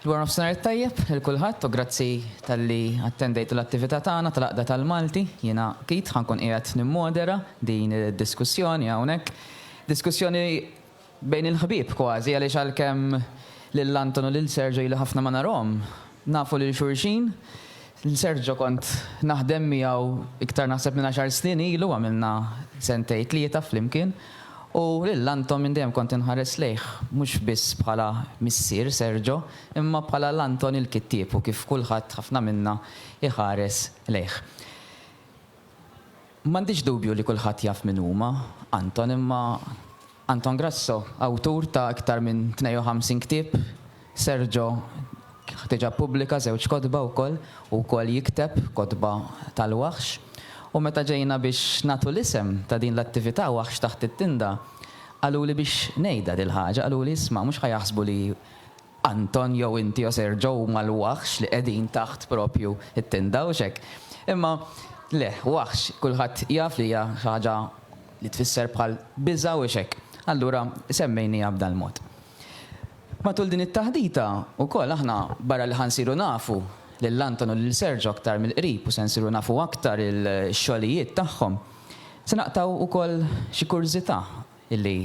Dwar nofsinhar it-tajjeb lil kulħadd u grazzi talli attendejtu l-attività tagħna tal-Għaqda tal-Malti. Jiena Keith ħa nkun qiegħed nimmodera din id-diskussjoni hawnhekk. Diskussjoni bejn il-ħbieb kważi għaliex għalkemm lil Anton u lil Sergio ili ħafna ma narahom, Nafu lil xulxin. Sergio kont naħdem miegħu iktar naħseb minn għaxar snin ilu, għamilna sentejn tlieta flimkien. U lil Anton minn dejjem kont inħares lejh mhux biss bħala missier Sergio, imma bħala l-Anton il-kittieb u kif kulħadd, ħafna minna, iħares lejh. M'għandix dubju li kulħadd jaf min huma Anton imma. Anton Grasso, awtur ta' iktar minn 52 ktieb, Sergio diġà ppubblika żewġ kotba wkoll, hu wkoll jikteb kotba tal-waħx. U meta ġejna biex nagħtu l-isem ta' din l-attività Waħx Taħt it-Tinda, qaluli biex ngħidha dil-ħaġa, qaluli isma' mhux ħa jaħsbu li Anton jew inti jew Sergio huma l-waħx li qegħdin taħt proprju t-tinda, hux hekk? Imma le, waħx, kulħadd jaf li hija xi ħaġa li tfisser bħal biża' u xekk, allura semmejniha b'dan il-mod. Matul din it-taħdita wkoll aħna barra li ħa nsiru nafu lil Anton u lil Sergio aktar mill-qrib u se nsiru nafu aktar il-xogħlijiet tagħhom, se naqtgħu wkoll xi kurżità li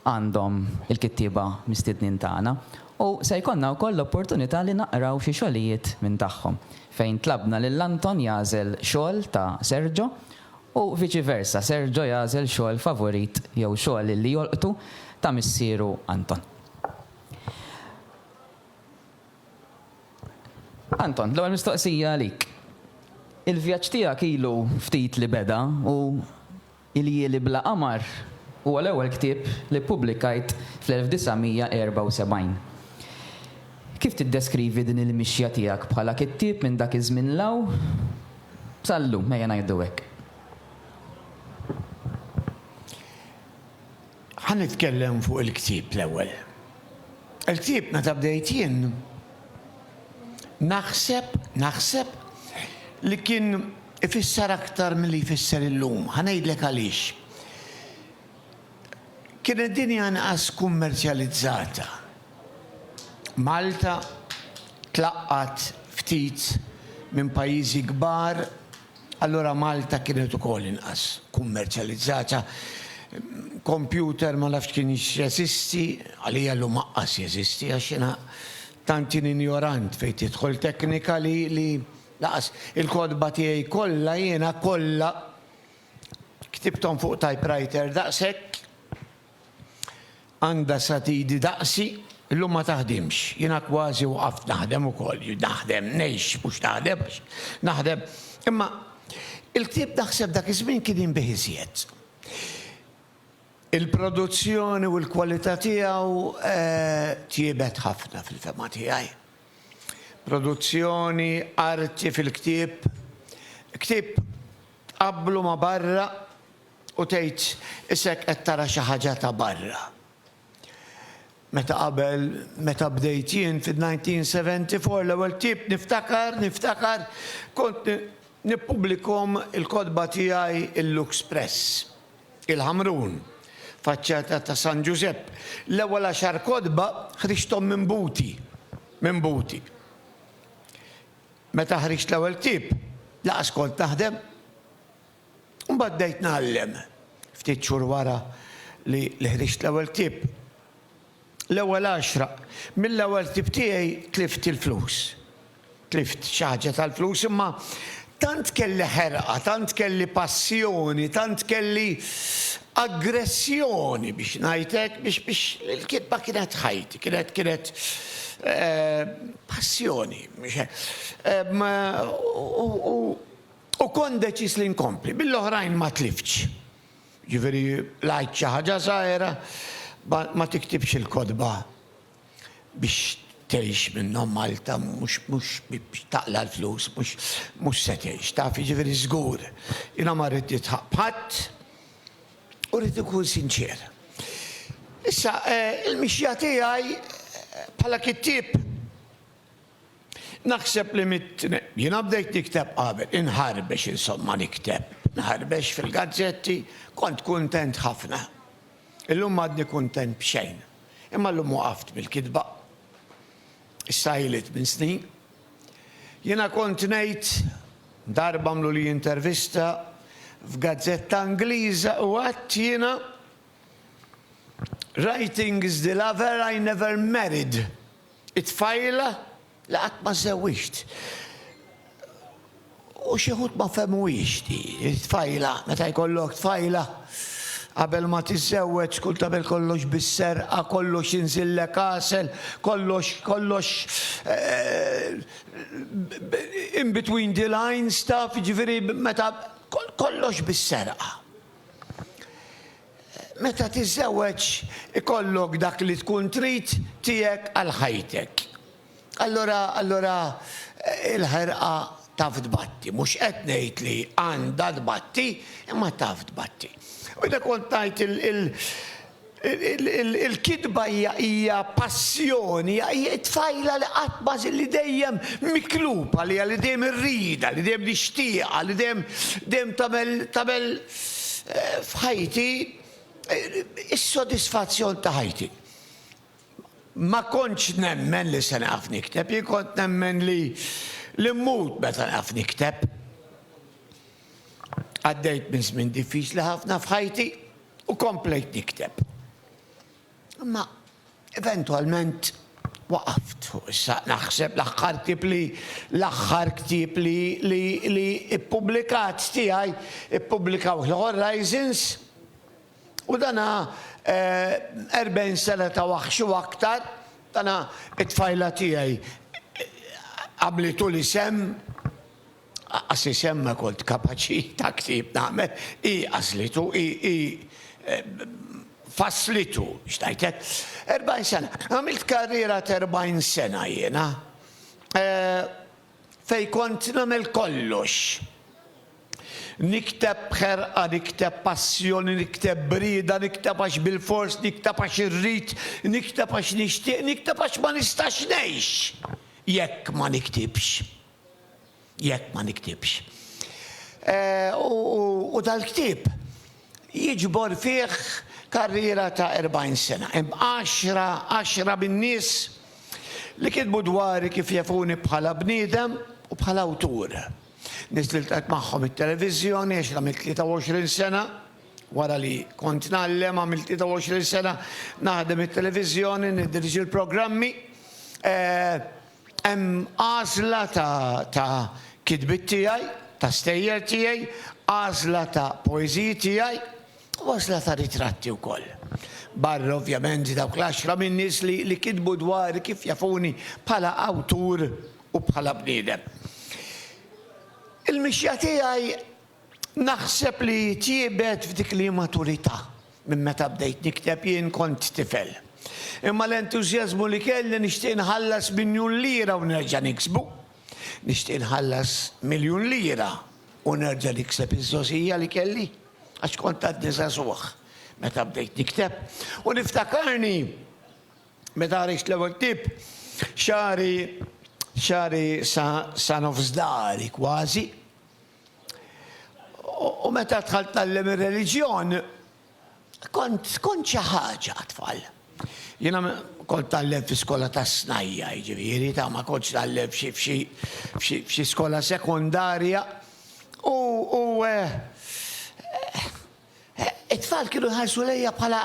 għandhom il-kittieba mistednin tagħna u se jkollna wkoll l-opportunità li naqraw xi xogħlijiet minn tagħhom, fejn tlabna lil Anton jagħżel xogħol ta' Sergio u viċi versa, Sergio jagħżel xogħol favurit jew xogħol li jolqtu ta' missieru Anton. Anton, l-ewwel mistoqsija għalik. Il-vjaġġ tiegħek ilu ftit li beda u Iljieli bla qamar huwa l-ewwel ktieb li ppubblikajt fl-1974. Kif tiddeskrivi din il-mixja tiegħek bħala kittieb minn dak iż-żmien 'l hawn? B'sal-lum, ejja ngħidu hekk. Ħa nitkellem fuq il-ktieb l-ewwel. Il-ktieb meta bdejt jien naħseb, naħseb li kien ifisser aktar milli jfisser illum. Ħa ngħidlek għaliex. Kienet dinja inqas kummerċjalizzata. Malta tlaqqgħat ftit minn pajjiżi kbar, allura Malta kienet ukoll inqas kummerċjalizzata. Kompjuter ma nafx kien x'jeżisti, għalija llum aqqas jeżisti għax jiena tant jien injorant fejn tidħol teknika li li lanqas il-kotba tiegħi kollha jiena kollha ktibthom fuq typewriter daqshekk. Għandha sat idi daqsi, illum ma taħdimx. Jiena kważi waqaft naħdem ukoll. Naħdem, ngħix, mhux naħdem għax naħdem. Imma il-ktieb naħseb dak iż-żmien kien jinbiegħ iżjed. Il-produzzjoni u l-kwalità tiegħu tjiebet ħafna fil-fehma tiegħi. Produzzjoni, arti fil-ktieb. Ktieb tqabblu ma' barra. U tgħid isek qed tara xi ħaġa ta' barra. Meta qabel, meta bdejt jien fid-1974 l-ewwel ktieb niftakar, niftakar, kont nippubblikom il-kotba tiegħi il-Lux Press, il-Ħamrun, faċċata ta' San Ġużepp. L-ewwel għaxar kotba ħriġthom minn Buti, minn Buti. Meta ħriġt l-ewwel ktieb, lanqas kont naħdem. Imbagħad bdejt ngħallem. Ftit xhur wara li ħriġt l-ewwel ktieb, l-ewwel għaxra mill-ewwel ktieb tiegħi tlift il-flus. Tlift xi ħaġa tal-flus imma tant kelli ħerqa, tant kelli passjoni, tant kelli aggressjoni biex ngħid hekk biex il-kitba kienet ħajti, kienet kienet passjoni. U U kont deċiż li nkompli, bil-oħrajn ma tliftx. Jiġifieri l-għid xi ħaġa żgħira, ma tiktibx il-kotba biex tgħix minnhom Malta mhux mhux biex taqla' l-flus, mhux mhux se tgħix, taf, jiġifieri żgur. Jiena ma rrid nidħaq b'ħadd u rrid inkun sinċier. Issa, il-mixja tiegħi bħala kittieb, Naħseb li mitt, jiena bdejt nikteb qabel, inħarbex insomma nikteb, nħarbex fil-gazzetti, kont kuntent ħafna. Illum m'għadni kuntent b'xejn. Imma llum waqaft mill-kitba. Issa ili tmien snin. Jiena kont ngħid, darba għamluli intervista f'gazzetta Ingliża u għedt jiena, Writings the lover I never married It-tfajla li qatt ma żewwiġt. U xi wħud ma fehmuhiex di, it-tfajla, meta jkollok tfajla, qabel ma tiżżewweġ tkun tagħmel kollox bis-serqa, kollox inżillek għasel, kollox, kollox in between the lines taf, jiġifieri meta, kollox bis-serqa. Meta tiżżewweġ ikollok dak li tkun trid tiegħek għal ħajtek. Allura, allura il-ħerqa taf tbatti. Mhux qed ngħid li għandha tbatti, imma taf tbatti. U jiena kont ngħid il, il, Il-kitba hija passjoni, hija t-tfajla li qatt ma li dejjem miklub għaliha, li dejjem irridha, li dejjem nixtieqha, li dejjem dejjem tagħmel tagħmel f'ħajti is-sodisfazzjon ta' ħajti. Ma kontx nemmen li se nieqaf nikteb, jien kont nemmen li li mmut meta nieqaf nikteb. Għaddejt minn żmien diffiċli ħafna f'ħajti u komplejt nikteb. Imma eventwalment waqaft fuq issa naħseb l-aħħar ktieb li l-aħħar ktieb li li li ippubblikat tiegħi ippubblikaw il-Horizons u dana 40 eh, sena ta' waħx u aktar dana it-tfajla tiegħi għamlitu li sem Aqqas isem ma kont kapaċi ta' ktieb nagħmel, hi għażlitu, hi fasslitu, x'ngħidlek. Erbgħin sena. Għamilt karriera ta' erbgħin sena jiena, fejn kont nagħmel kollox. Nikteb b'ħerqa, nikteb b'passjoni, nikteb b'rieda, nikteb għax bilfors, nikteb għax irrid, nikteb għax nixtieq, nikteb għax ma nistax ngħix jekk ma niktibx. jekk ma niktibx. U dal-ktieb jiġbor fih karriera ta' 40 sena. Hemm għaxra, għaxra min-nies li kitbu dwari kif jafuni bħala bniedem u bħala awtur. Nies li ltqajt magħhom it-televiżjoni għax għamilt 23 sena, wara li kont ngħallem għamilt 23 sena naħdem it-televiżjoni, niddirġi l-programmi. Hemm għażla ta' kitbiet tiegħi, ta' stejjer tiegħi, għażla ta' poeżiji tiegħi u għażla ta' ritratti wkoll. Barra ovvjament dawk l-għaxra minn nies li kitbu dwari kif jafuni bħala awtur u bħala bniedem. Il-mixja tiegħi Naħseb li tjiebet f'dik l-immaturità minn meta bdejt nikteb, jien kont tifel. Imma l-entużjażmu li kelli nixtieq nħallas miljun lira u nerġa' niksbu. Nixtieq nħallas miljun lira u nerġa' nikseb iż-żgħożija li kelli għax kont għadni żagħżugħ meta bdejt nikteb. U niftakarni meta ħriġt l-ewwel ktieb, xagħri xagħri sa sa nofs dahri kważi. U meta dħalt tgħallem ir-reliġjon, kont kont xi ħaġa għat-tfal. Jiena kont tgħallem fi skola tas-snajja, jiġifieri ta' ma kontx tgħallem f'xi f'xi f'xi f'xi skola sekondarja. U u eh, It-tfal kienu jħarsu lejja bħala,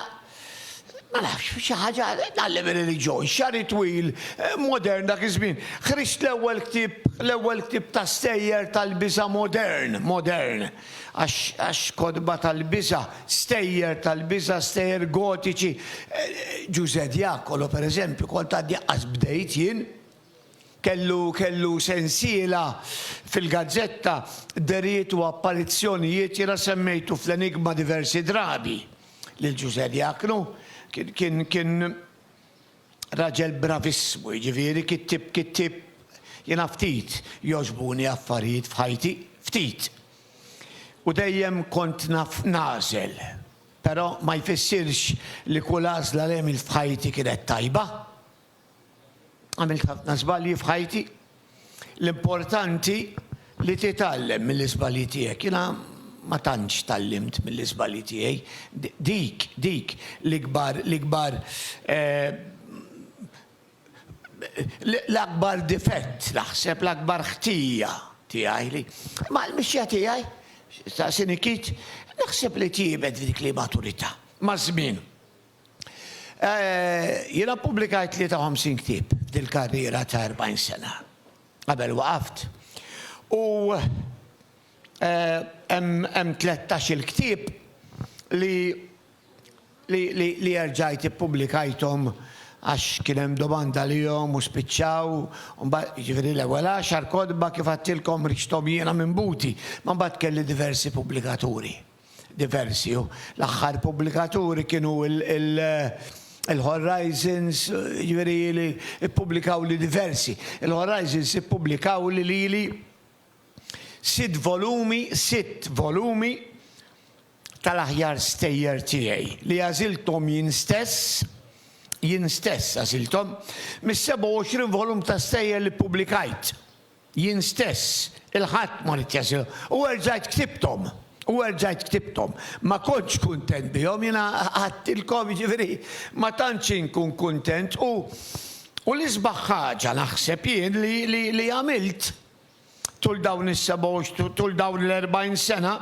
ma nafx, xi ħaġa tgħallem ir-reliġjon, xagħri twil, modern dak iż-żmien. Ħriġt l-ewwel ktieb, l-ewwel ktieb ta' stejjer tal-biża' modern, modern, għax, għax kotba tal-biża', stejjer tal-biża', stejjer gotiċi. Ġużè Diacolo, pereżempju, kont għadni qatt bdejt jien. Kellu kellu sensiela fil-gazzetta, dehriet u apparizzjonijiet, jiena semmejtu fl-Enigma diversi drabi lil Ġużè Diacnu, kien kien kien raġel bravissimu, jiġifieri kittieb kittieb jiena ftit jogħġbuni affarijiet f'ħajti, ftit. U dejjem kont naf nagħżel, però ma jfissirx li kull għażla li għemilt f'ħajti kienet tajba. Għamilt ħafna żbalji f'ħajti. L-importanti li titgħallem mill-iżbalji tiegħek. Jiena ma tantx tgħallimt mill-iżbalji tiegħi. Dik, dik l-ikbar, l-ikbar l-akbar difett naħseb, l-akbar ħtija tiegħi li. Imma l-mixja tiegħi, staqsieni Keith, naħseb li tjiebet f'dik l-immaturità maż-żmien. Jiena ppubblikajt 53 ktieb f'dil-karriera ta' 40 sena, qabel waqaft, u hemm tlettax-il ktieb li erġajt ippubblikajthom għax kien hemm domanda għalihom u spiċċaw, jiġifieri l-ewwel għaxar kotba kif għedtilkom riċthom jiena minn buti, imma mbagħad kelli diversi pubblikaturi. diversi u l-aħħar pubblikaturi kienu il-Horizons, jiġifieri li ppubblikawli diversi. Il-Horizons ippubblikawli lili sitt volumi, sitt volumi tal-aħjar stejjer tiegħi li għażilthom jien stess, jien stess għażilthom, mis-27 volum ta' stejjer li ppubblikajt. Jien stess, il-Ħadd, ma ridt jeżilu. U erġajt ktibthom. U erġajt ktibthom. Ma kontx kuntent bihom, jiena għedtilkom, jiġifieri, ma tantx inkun kuntent. U, u l-isbaħ ħaġa, naħseb jien, li, li, li għamilt tul dawn is-sebgħa u, tul dawn l-erbgħin sena,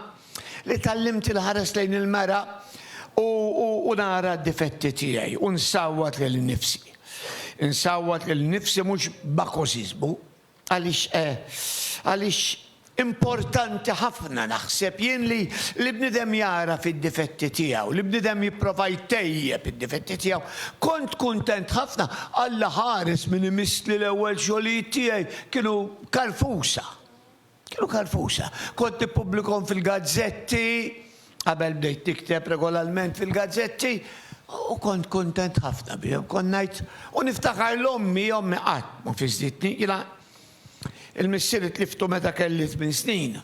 Li tgħallimt inħares lejn il-mera u nara d-difetti tiegħi u nsawwat lil innifsi. Insawwat lil innifsi mhux b'akożiżmu. Għaliex għaliex importanti ħafna naħseb jien li li bniedem jagħraf id-difetti tiegħu, li bniedem jipprova jtejjeb id-difetti tiegħu. Kont kuntent ħafna, Alla ħares min imiss li l-ewwel xogħlijiet tiegħi kienu karfusa. Kienu kalfusa. Kont nippubblikhom fil-gazzetti, qabel bdejt nikteb regolarment fil-gazzetti, u kont kuntent ħafna bihom. Kont ngħid, u niftakar 'l ommi, ommi qatt ma fiżżitni. Jiena, il-missieri tliftu meta kelli tmien snin.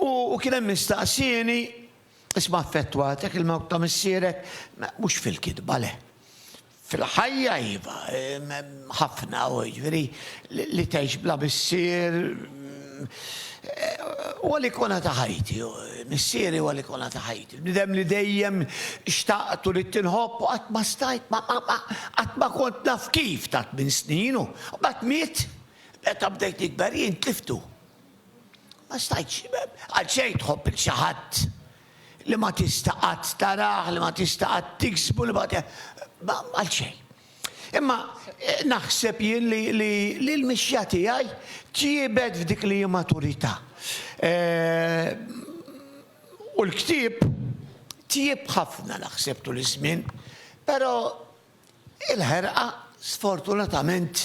U kien hemm min staqsieni, Isma' affettwat, jekk il-mewt ta' missierek, mhux fil-kitba le. Fil-ħajja iva, ħafna, jiġifieri li tgħix bla missier, huwa l-ikona ta' ħajti, missieri huwa l-ikona ta' ħajti. Bniedem li dejjem xtaqt u ridt tinħobb u qatt ma stajt, qatt ma kont naf kif ta' tmien snin u mbagħad miet, meta bdejt nikber jien tliftu. Ma stajtx, għal xejn tħobb lil xi ħadd li ma tista' qatt tarah, li ma tista' qatt tiksbu, li ma għal xejn. Imma eh, naħseb jien li l-mixja tiegħi tjiebet f'dik li maturità. Eh, u l-ktieb tjieb ħafna naħseb tul iż-żmien, però Il-ħerqa sfortunatament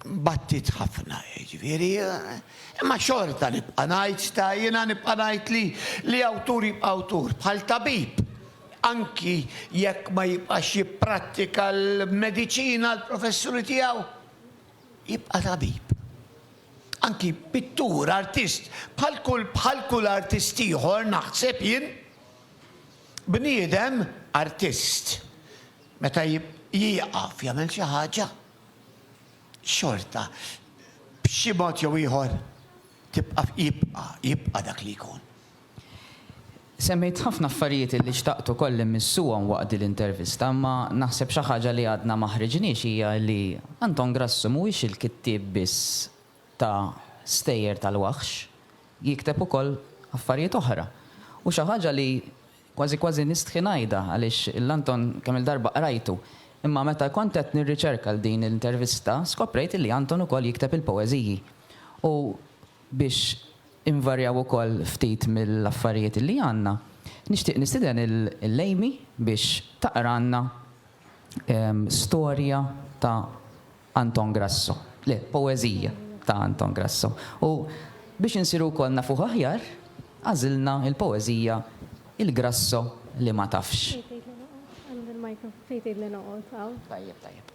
battiet ħafna, jiġifieri, imma xorta nibqa' ngħid ta' jiena nibqa' ngħid li li awtur jibqa' awtur, bħal tabib anki jekk ma jibqax jipprattika l-mediċina, l-professjoni tiegħu, jibqa' tabib. Anki pittur, artist, bħal kull bħal kull artist ieħor naħseb jien, Bniedem, artist, meta jieqaf jagħmel xi ħaġa, xorta b'xi mod jew ieħor tibqa' jibqa' jibqa' dak li jkun. Semmejt ħafna affarijiet illi xtaqt ukoll immissuhom waqt din l-intervista, imma naħseb xi ħaġa li għadna ma ħriġniex hija li Anton Grassu mhuwiex il-kittieb biss ta' stejjer tal-waħx, jikteb ukoll affarijiet oħra. U xi ħaġa li kważi kważi nistħi ngħidha għaliex lil Anton kemm-il darba qrajtu, imma meta kont qed nirriċerka għal din l-intervista skoprejt li Anton ukoll jikteb il-poeżiji. U biex invarjaw ukoll ftit mill-affarijiet li għandna, nixtieq nistieden lil Amy biex taqralna storja ta' Anton Grasso. Le, poeżija ta' Anton Grasso. U biex insiru wkoll nafuh aħjar, għażilna l-poeżija Il-Grasso li ma tafx. Fejn tgħidli noqgħod? Qalli l-micro. Fejn tgħidli noqgħod? Hawn? Tajjeb, tajjeb.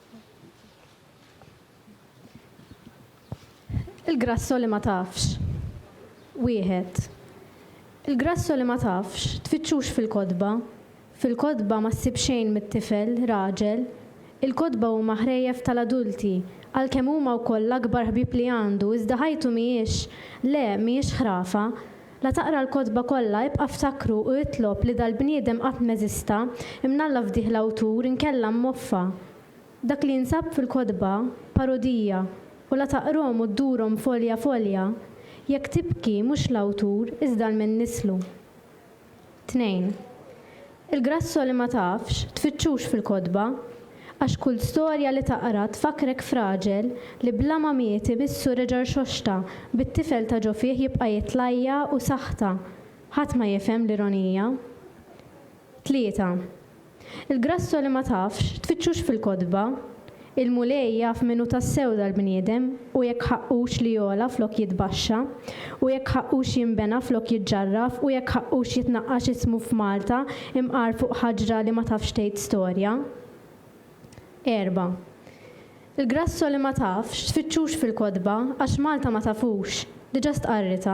Il-Grasso li ma tafx. Wieħed. Il-Grasso li ma tafx, tfittxux fil-kotba, Fil-kotba ma ssib xejn mit-tifel, raġel. Il-kotba huma ħrejjef tal-adulti, għalkemm huma wkoll l-akbar ħbieb li għandu iżda ħajtu mhijiex, le, mhijiex ħrafa. La taqra l-kotba kollha ibqa' ftakru u itlob li dal-bniedem qatt m'eżista, imnalla fdih l-awtur inkella mmoffa. Dak li jinsab fil-kotba, parodija, u la taqrhom u ddurhom folja folja. Jekk tibki mhux l-awtur iżda l-min nislu. Tnejn. Il-grasso li ma tafx, tfittxux fil-kotba, għax kull storja li taqra tfakkrek f'raġel li bla ma miet imissu reġa' rxoxta bit-tifel ta' ġo fih jibqa' jitlajja' u saħta. Ħadd ma jifhem l-ironija. Tlieta. Il-grasso li ma tafx, tfittxux fil-kotba. Il-Mulej jaf min hu tassew dal-bniedem u jekk ħaqqux li jogħla flok jitbaxxa, u jekk ħaqqux jinbena flok jiġġarraf u jekk ħaqqux jitnaqqax ismu f'Malta imqar fuq ħaġra li ma tafx tgħid storja. Erba'. Il-grasso li ma tafx, tfittxux fil-kotba, għax Malta ma tafux, diġa stqarritha.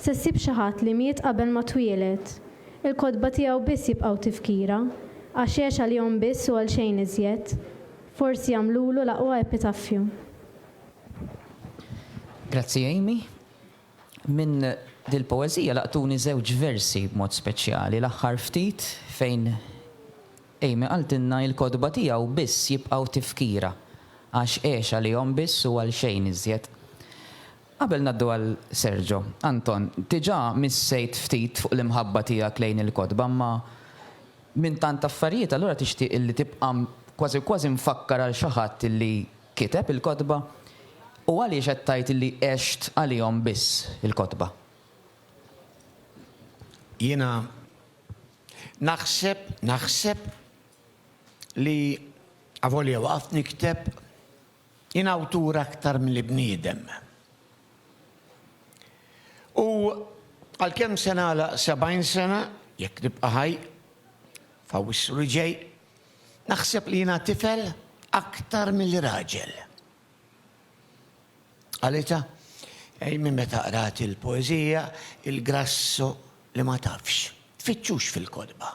Se ssib xi ħadd li miet qabel ma twieled. Il-kotba tiegħu biss jibqgħu tifkira, għax għex għal jom biss u għal xejn iżjed. Forsi jagħmlulu l-aqwa epitaffju. Grazzi Amy. Minn dil-poeżija laqtuni żewġ versi b'mod speċjali, l-aħħar ftit fejn Amy qaltilna il-kotba tiegħu biss jibqgħu tifkira, għax għex għalihom biss u għal xejn iżjed. Qabel ngħaddu għal Sergio, Anton, diġà missejt ftit fuq l-imħabba tiegħek lejn il-kotba imma minn tant affarijiet allura tixtieq illi tibqa' kważi kważi mfakkar għal xi ħadd illi kiteb il-kotba? U għaliex qed tgħid illi għext għalihom biss il-kotba? Jiena naħseb, naħseb li avolja waqaft nikteb, Jien awtur aktar milli bniedem. U għalkemm se nagħlaq 70 sena, jekk nibqa' ħaj, f'Awwissu li ġej, naħseb li jiena tifel aktar milli raġel. Qalita, Ej minn meta qrat il-poeżija, il-grasso li ma tafx, tfittxux fil-kotba.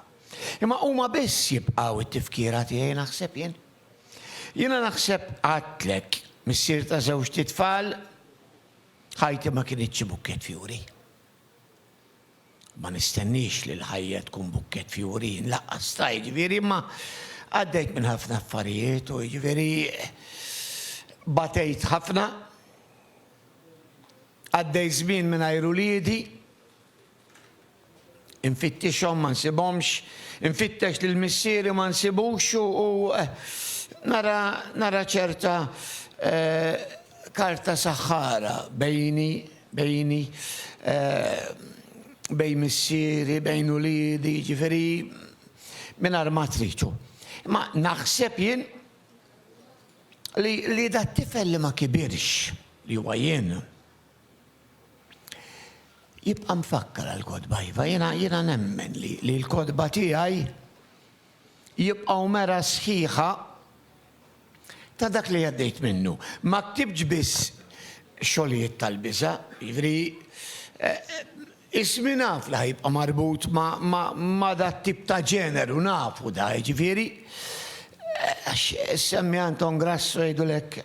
Imma huma biss jibqgħu t-tifkira tiegħi naħseb jien. Jiena naħseb għadtlek, missier ta' żewġt itfal, ħajti ma kinitx xi bukkett fjuri. Ma nistenniex li l-ħajja tkun bukkett fjuri, jien laqqas ta' jiġifieri, imma għaddejt minn ħafna affarijiet u jiġifieri batejt ħafna, għaddejt żmien mingħajr uliedi, Infittixhom ma nsibhomx, infittex lil missieri ma nsibux u nara nara ċerta karta saħħara bejni bejni bejn missieri bejn uliedi jiġifieri mingħajr ma trid u imma naħseb jien li li dat-tifel li ma kibirx li huwa jien Jibqa' mfakkar għall-kotba iva, jiena jiena nemmen li li l-kotba tiegħi jibqgħu mera sħiħa ta' dak li għaddejt minnu. Ma ktibtx biss xogħlijiet tal-biża', jiġifieri Ismi naf li ħajibqa' marbut ma' dat-tip ta' ġeneru, nafu da, jiġifieri, għax semmi Anton Grasso jgħidulek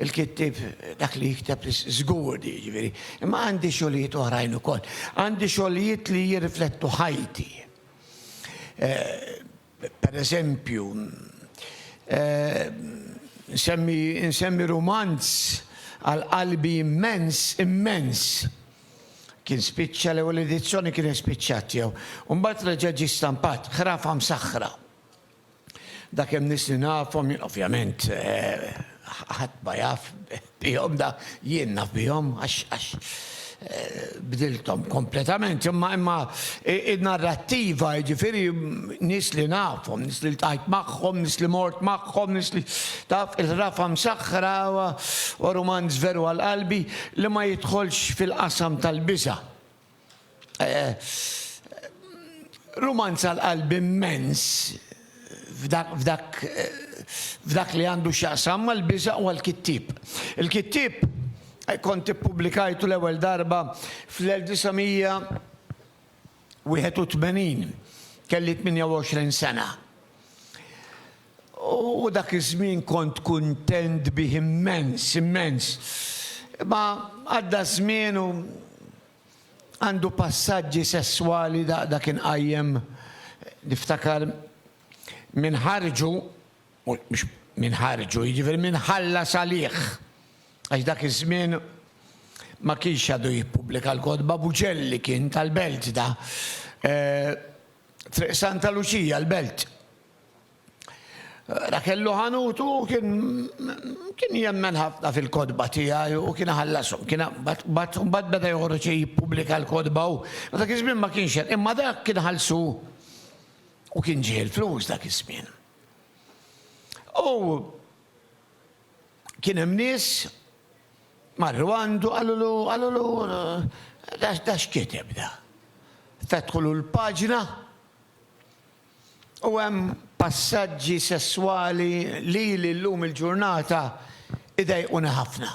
il-kittieb dak li jikteb li żgur di, jiġifieri. Imma għandi xogħlijiet oħrajn ukoll. Għandi xogħlijiet li jirriflettu ħajti. Pereżempju, insemmi rumanz għal qalbi immens, immens! Kien spiċċa, l-ewwel edizzjoni kienet spiċċat tiegħu. U mbagħad reġa' ġie stampat, Ħrafa Msaħħra. Dakemm nies li nafhom, ovvjament ħadd ma jaf, bihom da jien naf bihom għax għax bdilthom kompletament imma imma in-narrattiva jiġifieri nies li nafhom, nies li ltqajt magħhom, nies li mort magħhom, nies li taf il-Ħrafa Msaħħra huwa rumanz veru għal qalbi li ma jidħolx fil-qasam tal-biża'. Rumanz għal qalbi immens f'dak li għandu x'jaqsam mal-biża' u għall-kittieb. Il-kittieb kont ippubblikajtu l-ewwel darba fl-1981, kelli 28 sena. U dak iż-żmien kont kuntent bih immens, immens. Imma għadda ż-żmien u għandu passaġġi sesswali dak inqajjem, niftakar, min ħarġu, mhux min ħarġu, jiġifieri min ħallas għalih, għax dak iż-żmien ma kienx għadu jippubblika l-kotba, Buġelli kien tal-Belt da, Triq Santa Luċija l-Belt. Rakellu ħanutu kien kien jemmen ħafna fil-kotba tiegħi u kien ħallasu. Kien bat bat beda joħroġ jippubblika l-kotba u dak iż-żmien ma kienx hemm. Imma dak kien ħallsu u kien ġie l-flus dak iż-żmien. U kien hemm nies marru għandu qalulu qalulu da x'kiteb da. Fetħulu l-paġna U hemm passaġġi sesswali lili llum il-ġurnata jdejquni ħafna.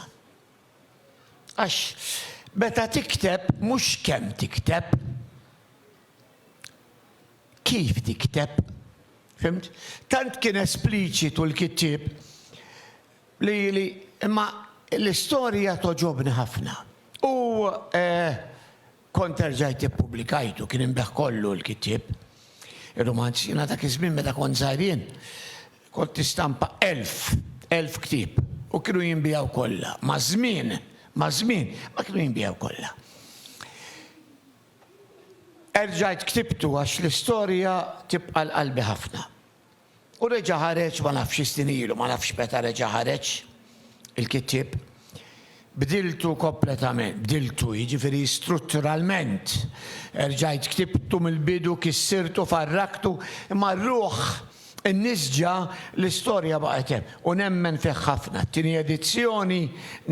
Għax meta tikteb mhux kemm tikteb, kif tikteb. Fhimt? Tant kien espliċitu l-kittieb li li imma l-istorja togħġobni ħafna. U Kont erġajt ippubblikajtu, kien inbiegħ kollu l-kittieb, ir-rumanz. Jiena dak iż-żmien meta kont żgħir jien, kont nistampa elf, elf ktieb u kienu jinbiegħu kollha. Maż-żmien, maż-żmien, ma kienu jinbiegħu kollha. Erġajt ktibtu għax l-istorja tibqa' l-qalbi ħafna. U reġa' ħareġ, ma nafx xi snin ilu, ma nafx meta reġa' ħareġ il-kittieb, bdiltu kompletament, bdiltu, jiġifieri strutturalment. Erġajt ktibtu mill-bidu, kissirtu, farraktu, imma r-ruħ innisġa, l-istorja baqgħet hemm. U nemmen fih ħafna, t-tieni edizzjoni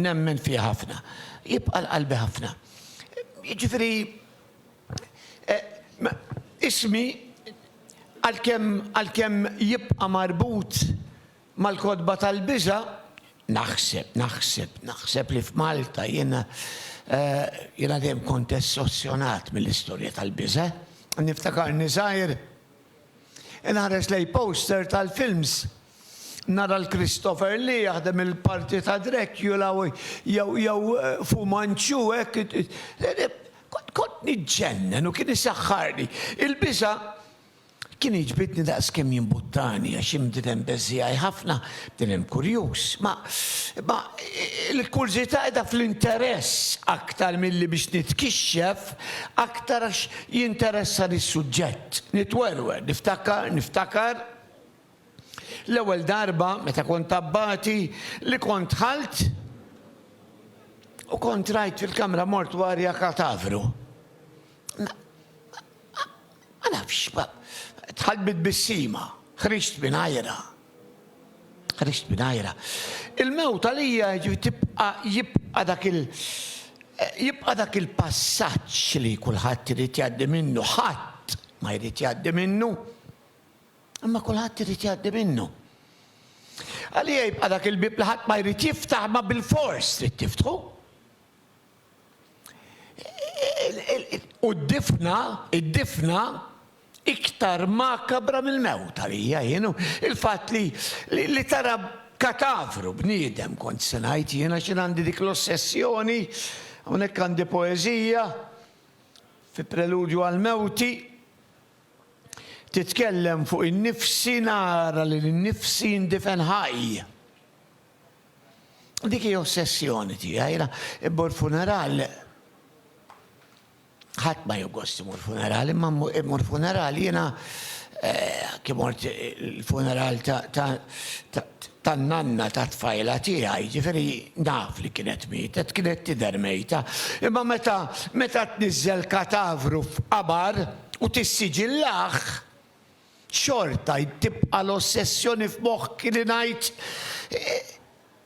nemmen fiha ħafna. Jibqa' l-qalbi ħafna. Jiġifieri Ismi, għalkemm jibqa' marbut mal-kotba tal-biża', naħseb, naħseb, naħseb li f'Malta jiena, jiena dejjem kont essossjonat mill-istorja tal-biża'. Niftakarni żgħir inħares lejn poster tal-films Nara 'l Christopher Lee jaħdem il-parti ta' Dracula jew jew Fu Manchu hekk kont kont niġġennen u kien isaħħarni. Il-biża' kien iġbidni daqs kemm jimbuttani għax jien bniedem beżżiegħi ħafna, bniedem kurjuż. Ma ma l-kurżità qiegħda fl-interess aktar milli biex nitkixxef aktar għax jinteressani s-suġġett. Nitwerwer, niftakar, niftakar. L-ewwel darba meta kont abbati li kont dħalt u kont rajt fil-kamra mortwarja katavru. Ma nafx, dħalt bi tbissima, ħriġt mingħajrha. Ħriġt mingħajrha. Il-mewt għalija tibqa' jibqa' dak il- jibqa' dak il-passaġġ li kulħadd irid jgħaddi minnu, ħadd ma jrid jgħaddi minnu. Imma kulħadd irid jgħaddi minnu. Għalija jibqa' dak il-bieb li ħadd ma jrid jiftaħ imma bilfors trid tiftħu. U d-difna, id-difna iktar makabra mill-mewt għalija jienu il-fatt li li tara katavru bniedem kont se ngħid jiena x'in għandi dik l-ossessjoni hawnhekk għandi poeżija fi preludju għal mewti Titkellem fuq innifsi nara lil innifsi indifen ħaj. Dik hi ossessjoni tiegħi. Immur funeral ħadd ma joggost imur funeral, imma immur funeral jiena eh, kif mort il-funeral tan-nanna ta' tfajla tiegħi, ġifieri naf li kienet mietet, kienet tidher mejta. Imma meta meta tniżżel katavru f'qabar, u tissiġillah, xorta tibqa' l-ossessjoni f'moħħki li ngħid,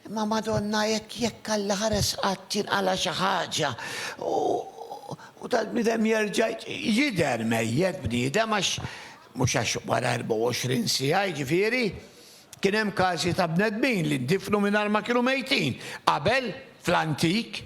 Imma Madonna jekk, jekk Alla ħares qatt tinqala' xi ħaġa u dal-bniedem jerġa' jidher mejjet bniedem għax, mhux għax wara 24 siegħa jiġifieri, kien hemm każi ta' bnedmin li ndifnu mingħajr ma kienu mejtin, qabel, fl-antik.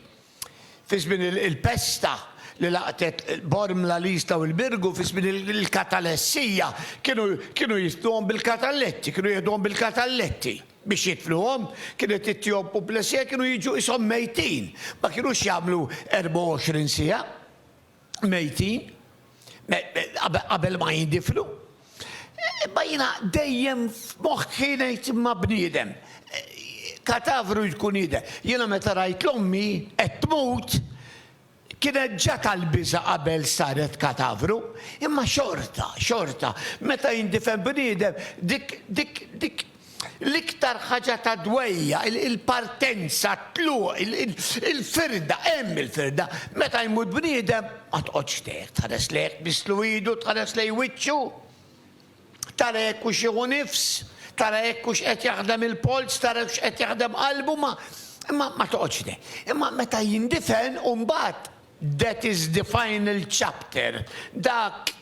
Fi żmien il-pesta li laqtet Bormla, l-Isla u l-Birgu, fi żmien il-katalessija, kienu jitfluhom bil-katalletti, kienu jiħduhom bil-katalletti biex jitfluhom, kienet ittihom puplesija, kienu jiġu qishom mejtin, ma kienux jagħmlu 24 siegħa. mejtin qabel ma jindifnu. Imma jiena dejjem f'moħħi ngħid imma bniedem, katavru jkun jidher. Jiena meta rajt l-ommi qed tmut, kienet ġa tal-biża' qabel saret katavru, imma xorta, xorta, meta jindifen bniedem, dik, dik, dik, L-iktar ħaġa ta' dwejjaq, il-partenza, t-tluq, il-firda, hemm il-firda. Meta jmut bniedem, ma toqgħodx tgħek, tħares lejh, tbisslu idu, tħares lejn wiċċu, tara jekk hux jieħu nifs, tara jekk hux qed jaħdem il-polz, tara jekk hux qed jaħdem qalbu, ma, imma ma toqgħodx tgħek. Imma meta jindifen, imbagħad, that is the final chapter, dak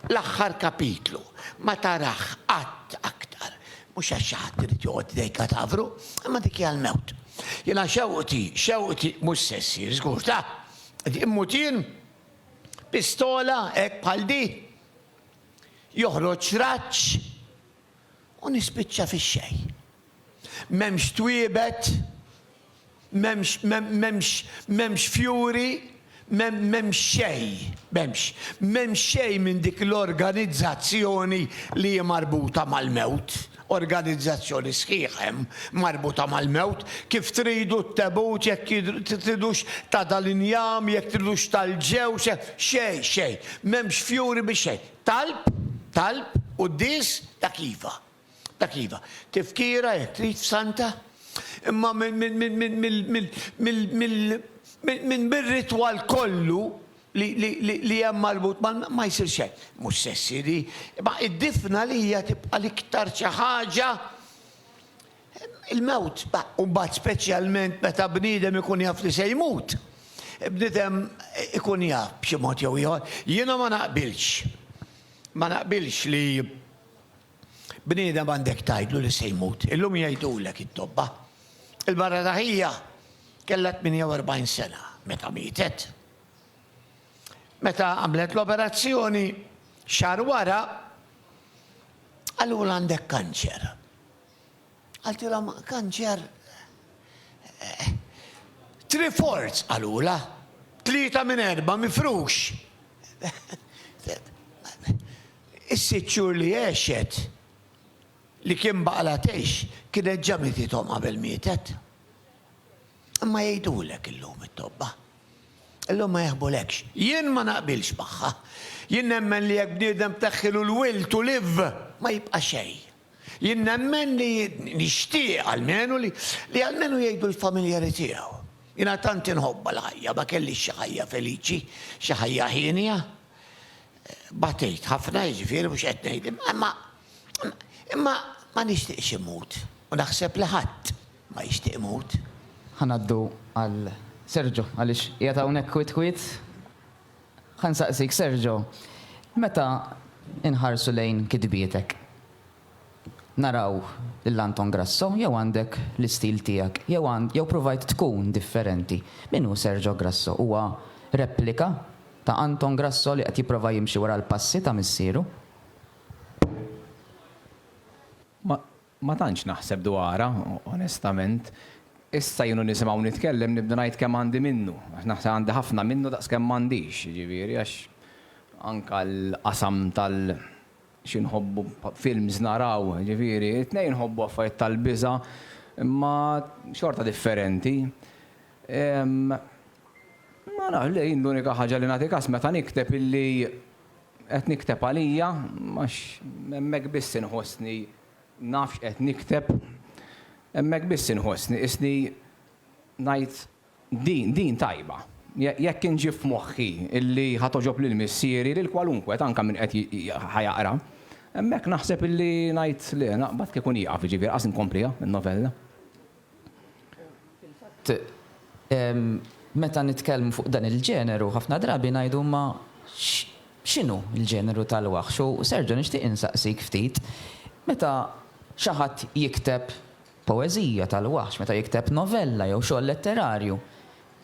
L-aħħar kapitlu ma tarah qatt aktar, mhux għax xi ħadd irid joqgħod idejn katavru, imma dik hija l-mewt. Jiena xewqti, xewqti mhux se ssir, żgur, ta. Immut jien? Pistola hekk bħal di? Joħroġ raġġ? u nispiċċa fix-xejn. M'hemmx twiebet, m'hemmx, m'hemmx, m'hemmx fjuri, m'hemmx xejn, m'hemmx, m'hemmx xejn minn dik l-organizzazzjoni li hi marbuta mal-mewt. Organizzazzjoni sħiħa hemm marbuta mal-mewt. Kif tridu t-tebut, jekk tridux ta' dal-injam, jekk tridux tal-ġewż, xejn, xejn. M'hemmx fjuri biex xejn. Talb, talb, quddies, dak iva. Dak iva. Tifkira jekk trid f'Santa. Imma minn bir-ritwal kollu li hemm marbut ma' ma jsirx hekk. Mhux se ssir hi. Imma id-difna għalija tibqa' l-iktar xi ħaġa Il-mewt, u mbagħad speċjalment meta bniedem ikun jaf li se jmut, bniedem ikun jaf b'xi mod jew ieħor. Jiena ma naqbilx, ma naqbilx li bniedem għandek tgħidlu li se jmut. Illum jgħidulek it-tobba. Il-mara ta' ħija kellha 48 sena meta mietet. Meta għamlet l-operazzjoni, xahar wara qalulha għandek kanċer. Qaltilhom, Kanċer, Three fourths, qalulha. Tlieta minn erba' mifrux. Is-sitt xhur li għexet, li kien baqalha tgħix, kienet ġa mitithom qabel mietet. Imma jgħidulek illum it-tobba. Illum ma jaħbulekx. Jien ma naqbilx magħha. Jien nemmen li jekk bniedem tneħħilu l-will to live, ma jibqa' xejn. Jien nemmen li, nixtieq almenu li, li almenu jgħidu l-familjari tiegħu. Jiena tant inħobbha l-ħajja, ma kellix xi ħajja feliċi, xi ħajja hienja. Batejt ħafna, jiġifieri mhux qed ngħid, imma, imma ma nixtieqx immut u naħseb li ħadd ma jixtieq imut. Ħa ngħaddu għal Sergio għaliex qiegħed hawnhekk kwiet kwiet. Ħa nsaqsik, Sergio, meta nħarsu lejn kitbietek, naraw lil Anton Grasso jew għandek l-istil tiegħek jew għand jew pruvajt tkun differenti? Min hu Sergio Grasso? Huwa replika ta' Anton Grasso li qed jipprova jimxi wara l-passi ta' missieru? Ma tantx naħseb dwarha, onestament. Issa jien u nisimgħu nitkellem nibda ngħid kemm għandi minnu. Għax naħseb għandi ħafna minnu daqs kemm m'għandix, jiġifieri għax anke l-qasam tal xi nħobbu films naraw, jiġifieri t-tnejn inħobbu affarijiet tal-biża' imma xorta differenti. Ma nafx, le jien l-unika ħaġa li nagħti kas meta nikteb illi Qed nikteb għalija għax hemmhekk biss inħossni naf x'qed nikteb. Hemmhekk biss inħossni qisni ngħid din, din tajba. Jekk inġib f'moħħi illi ħa togħġob lil missieri, lil kwalunkwe, anke min qed ħa jaqra, hemmhekk naħseb illi ngħid le, naqbad kieku nieqaf, jiġifieri ħa inkompliha, in-novella. Fil-fatt, meta nitkellmu fuq dan il-ġeneru, ħafna drabi ngħidu imma x'inhu l-ġeneru tal-waħx? U Sergio nixtieq insaqsik ftit, meta xi ħadd jikteb poeżija tal-waħx, meta jikteb novella jew xogħol letterarju,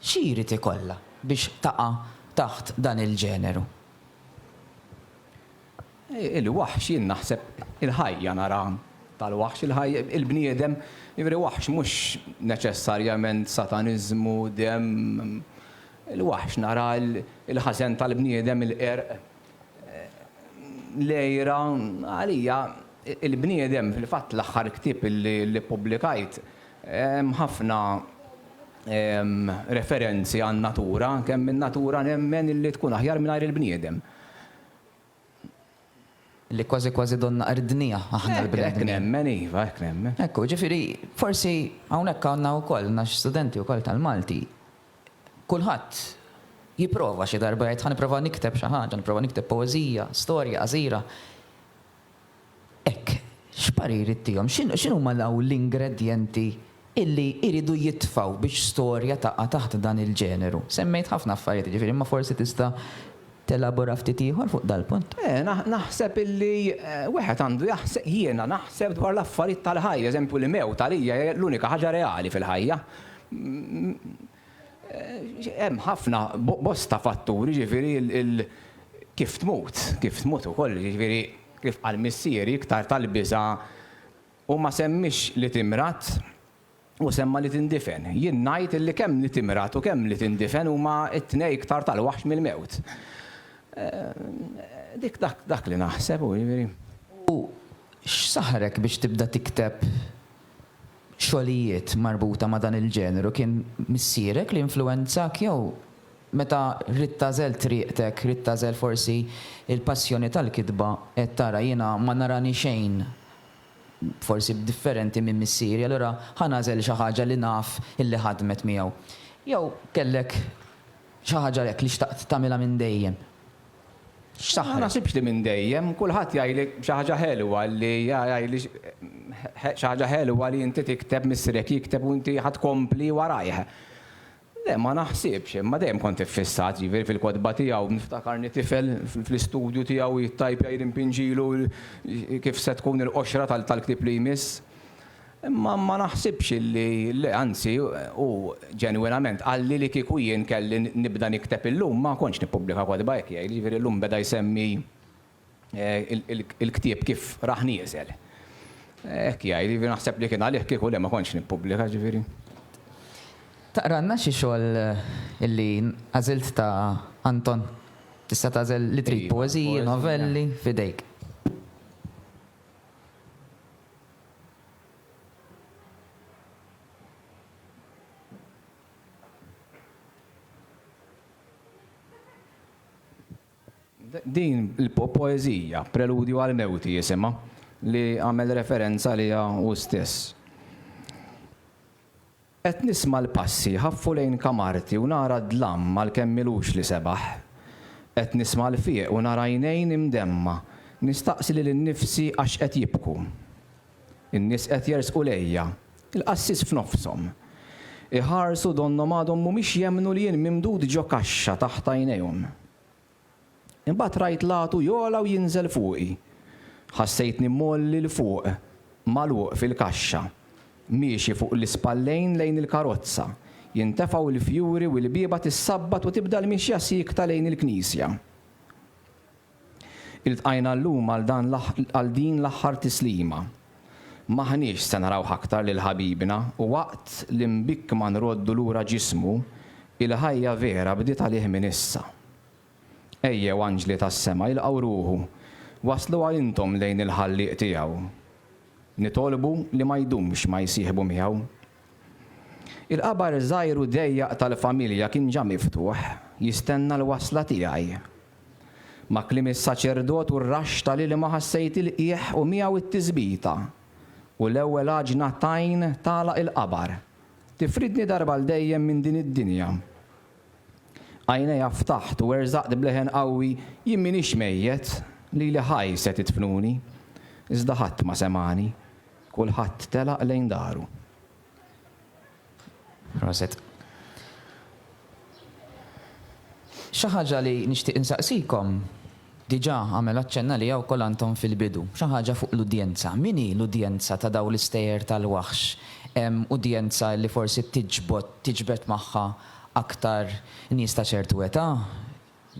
xi jrid ikollha biex taqa' taħt dan il-ġeneru? Il-waħx jien naħseb il-ħajja nara tal-waħx il-ħaj il-bniedem jiġifieri waħx mhux neċessarjament sataniżmu, demm, il-waħx nara l-ħażen tal-bniedem il-qerq, l-għira, għalija il-bniedem fil-fatt l-aħħar ktieb li ppubblikajt hemm ħafna referenzi għan-natura kemm in-natura nemmen li tkun aħjar mingħajr il-bniedem. li kważi kważi donnha qerdniha aħna l-bnedmin. Hekk nemmen iva, hekk nemmen. Hekk hu, jiġifieri forsi hawnhekk għandna wkoll għandna xi studenti wkoll tal-Malti, kulħadd jipprova xi darba jgħid ħa nipprova nikteb xi ħaġa, nipprova nikteb poeżija, storja qasira. Hekk, x'parir ittihom? X'inhuma l-ingredjenti illi jridu jitfgħu biex storja taqa' taħt dan il-ġeneru? Semmejt ħafna affarijiet jiġifieri imma forsi tista' telabora ftit ieħor fuq dal-punt? Eh, naħseb illi wieħed għandu jaħseb, jiena naħseb dwar l-affarijiet tal-ħajja, eżempju l-mewt għalija hi l-unika ħaġa reali fil-ħajja. Hemm ħafna, bosta fatturi, jiġifieri kif tmut, kif tmut ukoll, jiġifieri kif qal missieri iktar tal-biża' hu ma semmiex li timrad, hu semma li tindifen. Jien ngħid illi kemm li timrad u kemm li tindifen huma t-tnej iktar tal-waħx mill-mewt. Dik dak li naħseb hu jiġifieri. U x'saħħrek biex tibda tikteb? xogħlijiet marbuta ma' dan il-ġeneru kien missierek li influwenzak jew meta ridt tagħżel triqtek, ridt tagħżel forsi l-passjoni tal-kitba għedt tara jiena ma narani xejn forsi b'differenti minn missieri allura ħa nagħżel xi ħaġa li naf illi ħadmet miegħu. Jew kellek xi ħaġa hekk li xtaqt tagħmilha minn dejjem? X'saħħa? Ma naħsibx li minn dejjem. Kulħadd jgħidlek xi ħaġa ħelwa li jgħidli xi ħaġa ħelwa li inti tikteb, missierek jikteb u inti ħa tkompli warajh. Le, ma naħsibx, imma dejjem kont iffissat, jiġifieri fil-kotba tiegħu. Niftakarni tifel fl-istudju tiegħu jittajpja jrimpinġilu kif se tkun il-qoxra tal-ktieb li jmiss. Imma ma naħsibx li, le, anzi, hu ġenwinament qalli li kieku jien kelli nibda nikteb illum ma kontx nippubblika kotba, hekk jgħid, jiġifieri llum beda jsemmi l-ktieb kif rah nieżel. Hekk jgħid, jiġifieri naħseb li kien għalih kieku le ma kontx nippubblika, jiġifieri. Taqralna xi xogħol li għażilt ta' Anton? Tista' tagħżel li trid, poeżiji, novelli, f'idejk. Din il-poeżija, Preludju għal mewti jisimha, li għamel referenza għaliha hu stess. Qed nisma' l-passi jħaffu lejn kamarti u nara d-dlam għalkemm m'ilux li sebaħ. Qed nisma' l-fieq u nara għajnejn imdemma, nistaqsi lil innifsi għax qed jibku. In-nies qed jersqu lejja, il-qassis f'nofshom. Iħarsu donnhom għadhom mhumiex jemmnu li jien mimdud ġo kaxxa taħt għajnejhom. Imbagħad rajt l-għatu jogħla u jinżel fuqi. Ħassejtni mgħolli 'l fuq, magħluq fil-kaxxa, miexi fuq l-ispallejn lejn il-karozza, jintefgħu l-fjuri u l-bieba tissabbat u tibda l-mixja siekta lejn il-knisja. Iltqajna llum għal din l-aħħar tislima. M'aħniex se narawh aktar lil ħabibna u waqt li mbikkma nroddu lura ġismu, il-ħajja vera bdiet għalih minn issa. Ejjew anġli tas-sema ilqgħu ruħu, wassluha intom lejn il-Ħallieq tiegħu. Nitolbu li ma jdumx ma jsieħbu miegħu. Il-qabar żgħir u dejjaq tal-familja kien ġa miftuħ, jistenna l-wasla tiegħi. Ma' kliem is-saċerdot u r-raxx tal-ilma ħassejt il-qiegħ u miegħu t-tisbita, u l-ewwel għaġna t'għajn tagħlaq il-qabar, tifridni darba għal dejjem minn din id-dinja. Għajnejja ftaħt u werżaqt b'leħen qawwi, Jien m'iniex mejjet, lili ħaj se tidfnuni. Iżda ħadd ma semagħni. Kulħadd telaq lejn daru. Proset. Xi ħaġa li nixtieq insaqsikom, diġà għamel aċċenn għaliha wkoll Anton fil-bidu, xi ħaġa fuq l-udjenza. Min hi l-udjenza ta' dawn l-istejjer tal-waħx? Hemm udjenza li forsi tiġbod, tiġbed magħha aktar nies ta' ċertu età,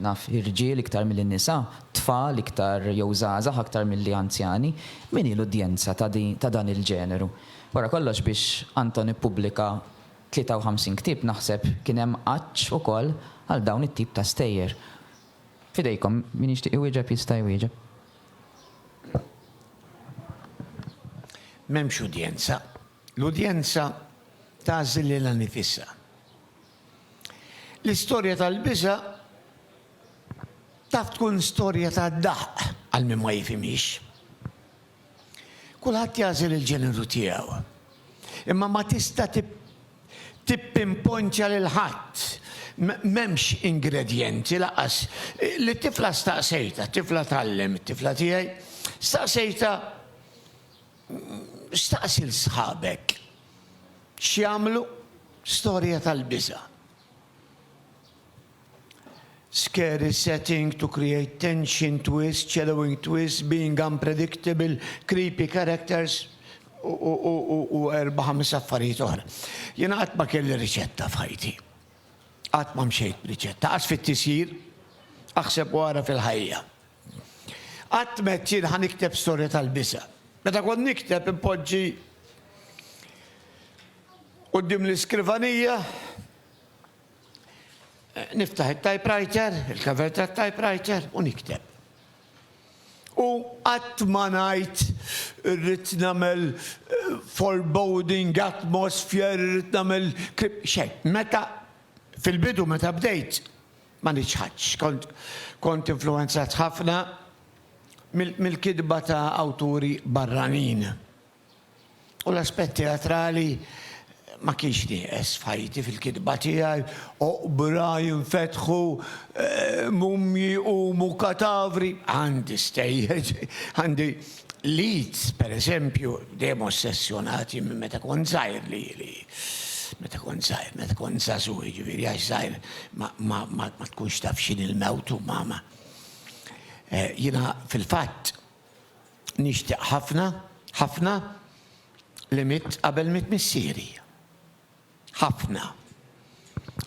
naf irġiel iktar milli nisa, tfal iktar jew żgħażagħ aktar milli anzjani, min hi l-udjenza ta' dan il-ġeneru? Wara kollox biex Anton ippubblika 53 ktieb naħseb kien hemm għatx ukoll għal dawn it-tip ta' stejjer. F'idejkom, min jixtieq iwieġeb jista' jwieġeb. M'hemmx udjenza. L-udjenza tagħżel lilha nifisha. L-istorja tal-biża' taf tkun storja ta' daħq għal min ma jifhimhiex. Kulħadd jagħżel il-ġeneru tiegħu. Imma ma tista' tippinponċja lil ħadd. M'hemmx ingredjenti lanqas. Lit-tifla staqsejtha, tifla tgħallem, it-tifla tiegħi, staqsejtha, Staqsi 'l sħabek X'jagħmlu? Storja tal-biża'. Scary setting to create tension, twist, shallowing twist, being unpredictable, creepy characters u erba' ħames affarijiet oħra. Jiena qatt ma kelli riċetta f'ħajti. Qatt ma mxejt b'riċetta. Qas fit-tisjir, aħseb u ara fil-ħajja. Qatt m'għedt jien ħa nikteb storja tal-biża'. Meta kont nikteb inpoġġi quddiem l-iskrivanija, niftaħ it-typewriter, il-cover tat-typewriter u nikteb. U qatt ma ngħid irrid nagħmel foreboding, atmosphere, irrid nagħmel, xejn. Meta, fil-bidu meta bdejt, Ma niċħadx. Kont kont influwenzat ħafna mill-kitba ta' awturi barranin. U l-aspett teatrali ma kienx nieqes f'ħajti fil-kitba tiegħi, oqbra jinfetħu, mumji jqumu, katavri, għandi stejjer, għandi Leeds, per eżempju, dejjem ossessjonati minn meta kont żgħir li li meta kont żgħir, meta kont żagħżugħ jiġifieri għax żgħir ma tkunx taf x'inhi l-mewt u ma ma. Eh, jiena fil-fatt nixtieq ħafna, ħafna li mitt qabel mitt missieri. ħafna.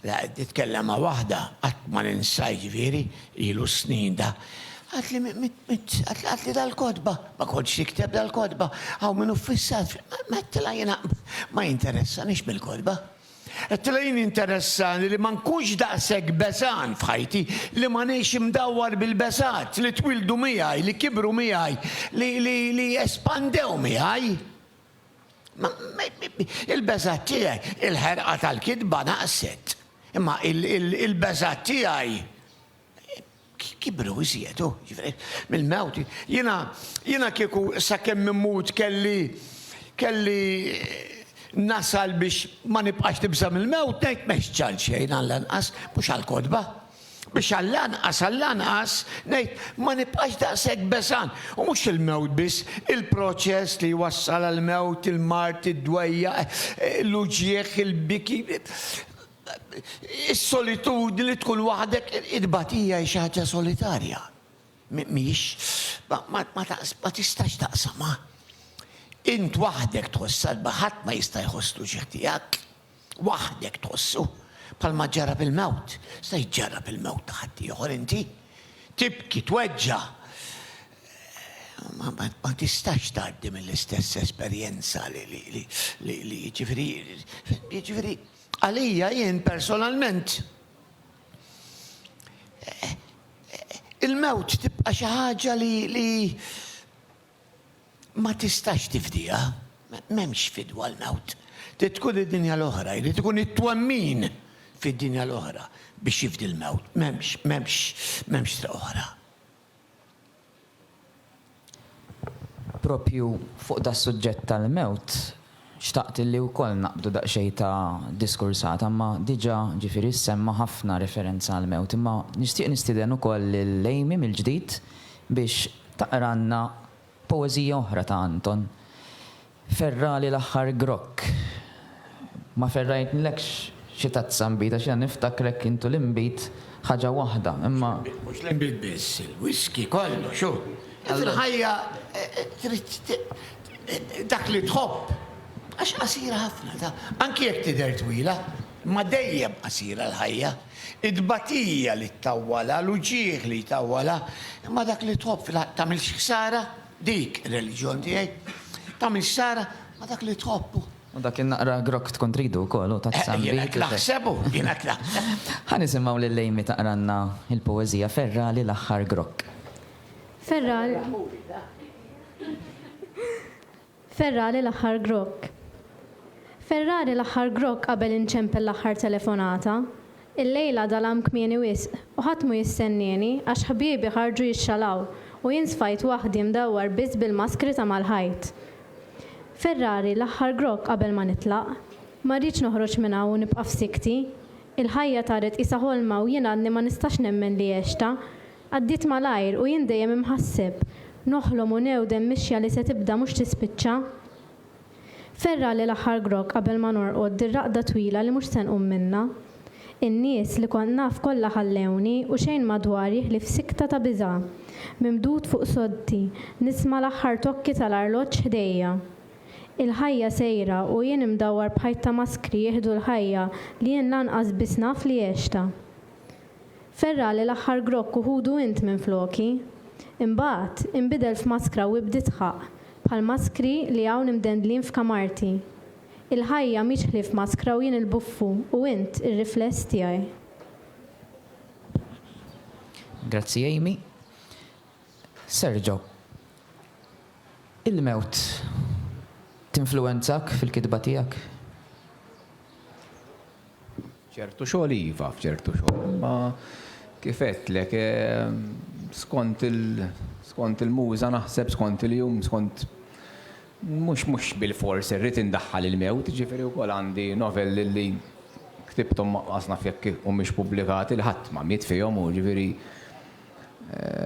La qed nitkellem ma' waħda, qatt ma ninsa jiġifieri, ilu s-snin da. Għatli għatli dal-kotba, ma kontx nikteb dal-kotba, hawn min hu ffissat, ma għedtilha jiena ma jinteressanix mill-kotba. Għedtilha jien jinteressani li ma nkunx daqshekk beżgħan f'ħajti, li ma ngħix imdawwar bil-beżgħat li twildu miegħi, li kibru miegħi, li li li espandew miegħi. Il-beża' tiegħi, il-ħerqa tal-kitba naqset, imma il-beża' tiegħi kibru iżjedu, mill-mewt. Jiena kieku sakemm immut kelli kelli nasal biex ma nibqax nibża' mill-mewt, ngħid m'hemmx ġall xejn għallanqas, mhux għall-kotba. Biex għall-anqas, għall-anqas, ngħid, ma nibqax daqshekk beżgħan. U mhux il-mewt biss, il-proċess li jwassal għall-mewt, il-mard, id-dwejjaq, l-uġigħ, il-biki, is-solitudni li tkun waħdek, it-tbatija hi xi ħaġa solitarja. Mhix, ma tistax taqsamha. Int waħdek tħoss salba, ħadd ma jista' jħoss l-uġigħ tiegħek. waħdek tħossu, bħalma ġġarrab il-mewt, se jġġarrab il-mewt ta' ħaddieħor inti. Tibki, tweġġa', ma, ma, ma tistax tgħaddi mill-istess esperjenza li, li, li, li, li jiġifieri, jiġifieri, għalija jien personalment il-mewt tibqa' xi ħaġa li, li Ma tistax tifdiha. M'hemmx fidwa għal nagħt. Trid tkun id-dinja l-oħra, jrid ikun it-twemmin fid-dinja l-oħra biex jifdi l-mewt. M'hemmx, m'hemmx, m'hemmx triq oħra. Proprju fuq das-suġġett tal-mewt, Xtaqt illi wkoll naqbdu daqsxejn ta' diskursata imma diġà ġifieri ssemma ħafna referenza għall-mewt imma nixtieq nistieden ukoll lil Amy mill-ġdid biex taqralna poeżija oħra ta' Anton. Ferrali l-aħħar grokk. Ma ferrajtnilekx xi tazza nbid għax jiena niftakrek int u l-inbid ħaġa waħda imma. Mhux l-inbid biss, il-whiskey kollox hu. Il-ħajja trid Dak li tħobb. Għax qasira ħafna ta'. Anki jekk tidher twila. Imma dejjem qasira l-ħajja. It-tbatija li ttawwalha, l-uġigħ li jtawwalha. Imma dak li tħobb fil-ħaqq tagħmilx ħsara, dik ir-reliġjon tiegħi. Tagħmilx ħsara ma' dak li tħobb u. U dak in-naqra grokk tkun tridu wkoll hu ta' tsambiħ. Jiena qed naħseb hu, jiena qed naħseb. Ħa nisimgħu lil Amy taqralna l-poeżija Ferragħli l-aħħar grokk. Ferral Ferrali l-aħħar grokk. Ferrari l-aħħar grokk qabel inċempel l-aħħar telefonata. Illejla dalam kmieni wisq u ħadd mhu jistennieni għax ħbiebi ħarġu jixxalaw u jien sfajt waħdi mdawwar biss bil-maskri ta' mal-ħajt. Ferrari l-aħħar grokk qabel ma nitlaq. Ma rridx noħroġ minn hawn u nibqa' f'sikti. Il-ħajja taret qisha ħolma u jien għadni ma nistax nemmen li għextha. Għaddiet malajr u jien dejjem imħasseb, noħlom u newdem mixja li se tibda mhux tispiċċa. Ferragħli l-aħħar grokk qabel ma norqod din raqda twila li mhux se nqum minnha. In-nies li kont naf kollha ħallewni u xejn madwari ħlief sikta ta' biża'. Mimdud fuq soddti, nisma' l-aħħar tokki tal-arloġġ ħdejja. Il-ħajja sejra u jien imdawwar b'ħajt ta' maskri jieħdu l-ħajja li jien lanqas biss naf li għextha. Ferra' li l-aħħar grokk u ħudu int minfloki. Imbagħad, inbidel f'maskra u ibd' idħaq, bħall-maskri li hawn imdendlin f'kamarti. Il-ħajja mhix ħlief maskra u jien il-buffu u int ir-rifless tiegħi. Grazzi Amy. Sergio, il-mewt tinfluwenzak fil-kitba tiegħek? F'ċertu xogħol iva, f'ċertu xogħol. Imma kif għedtlek, skont il, skont il-muża naħseb, skont il-jum, skont, mhux, mhux bilfors irrid indaħħal il-mewt, jiġifieri wkoll għandi novelli li ktibthom ma qas naf jekk humiex pubblikati li ħadd ma miet fihom u jiġifieri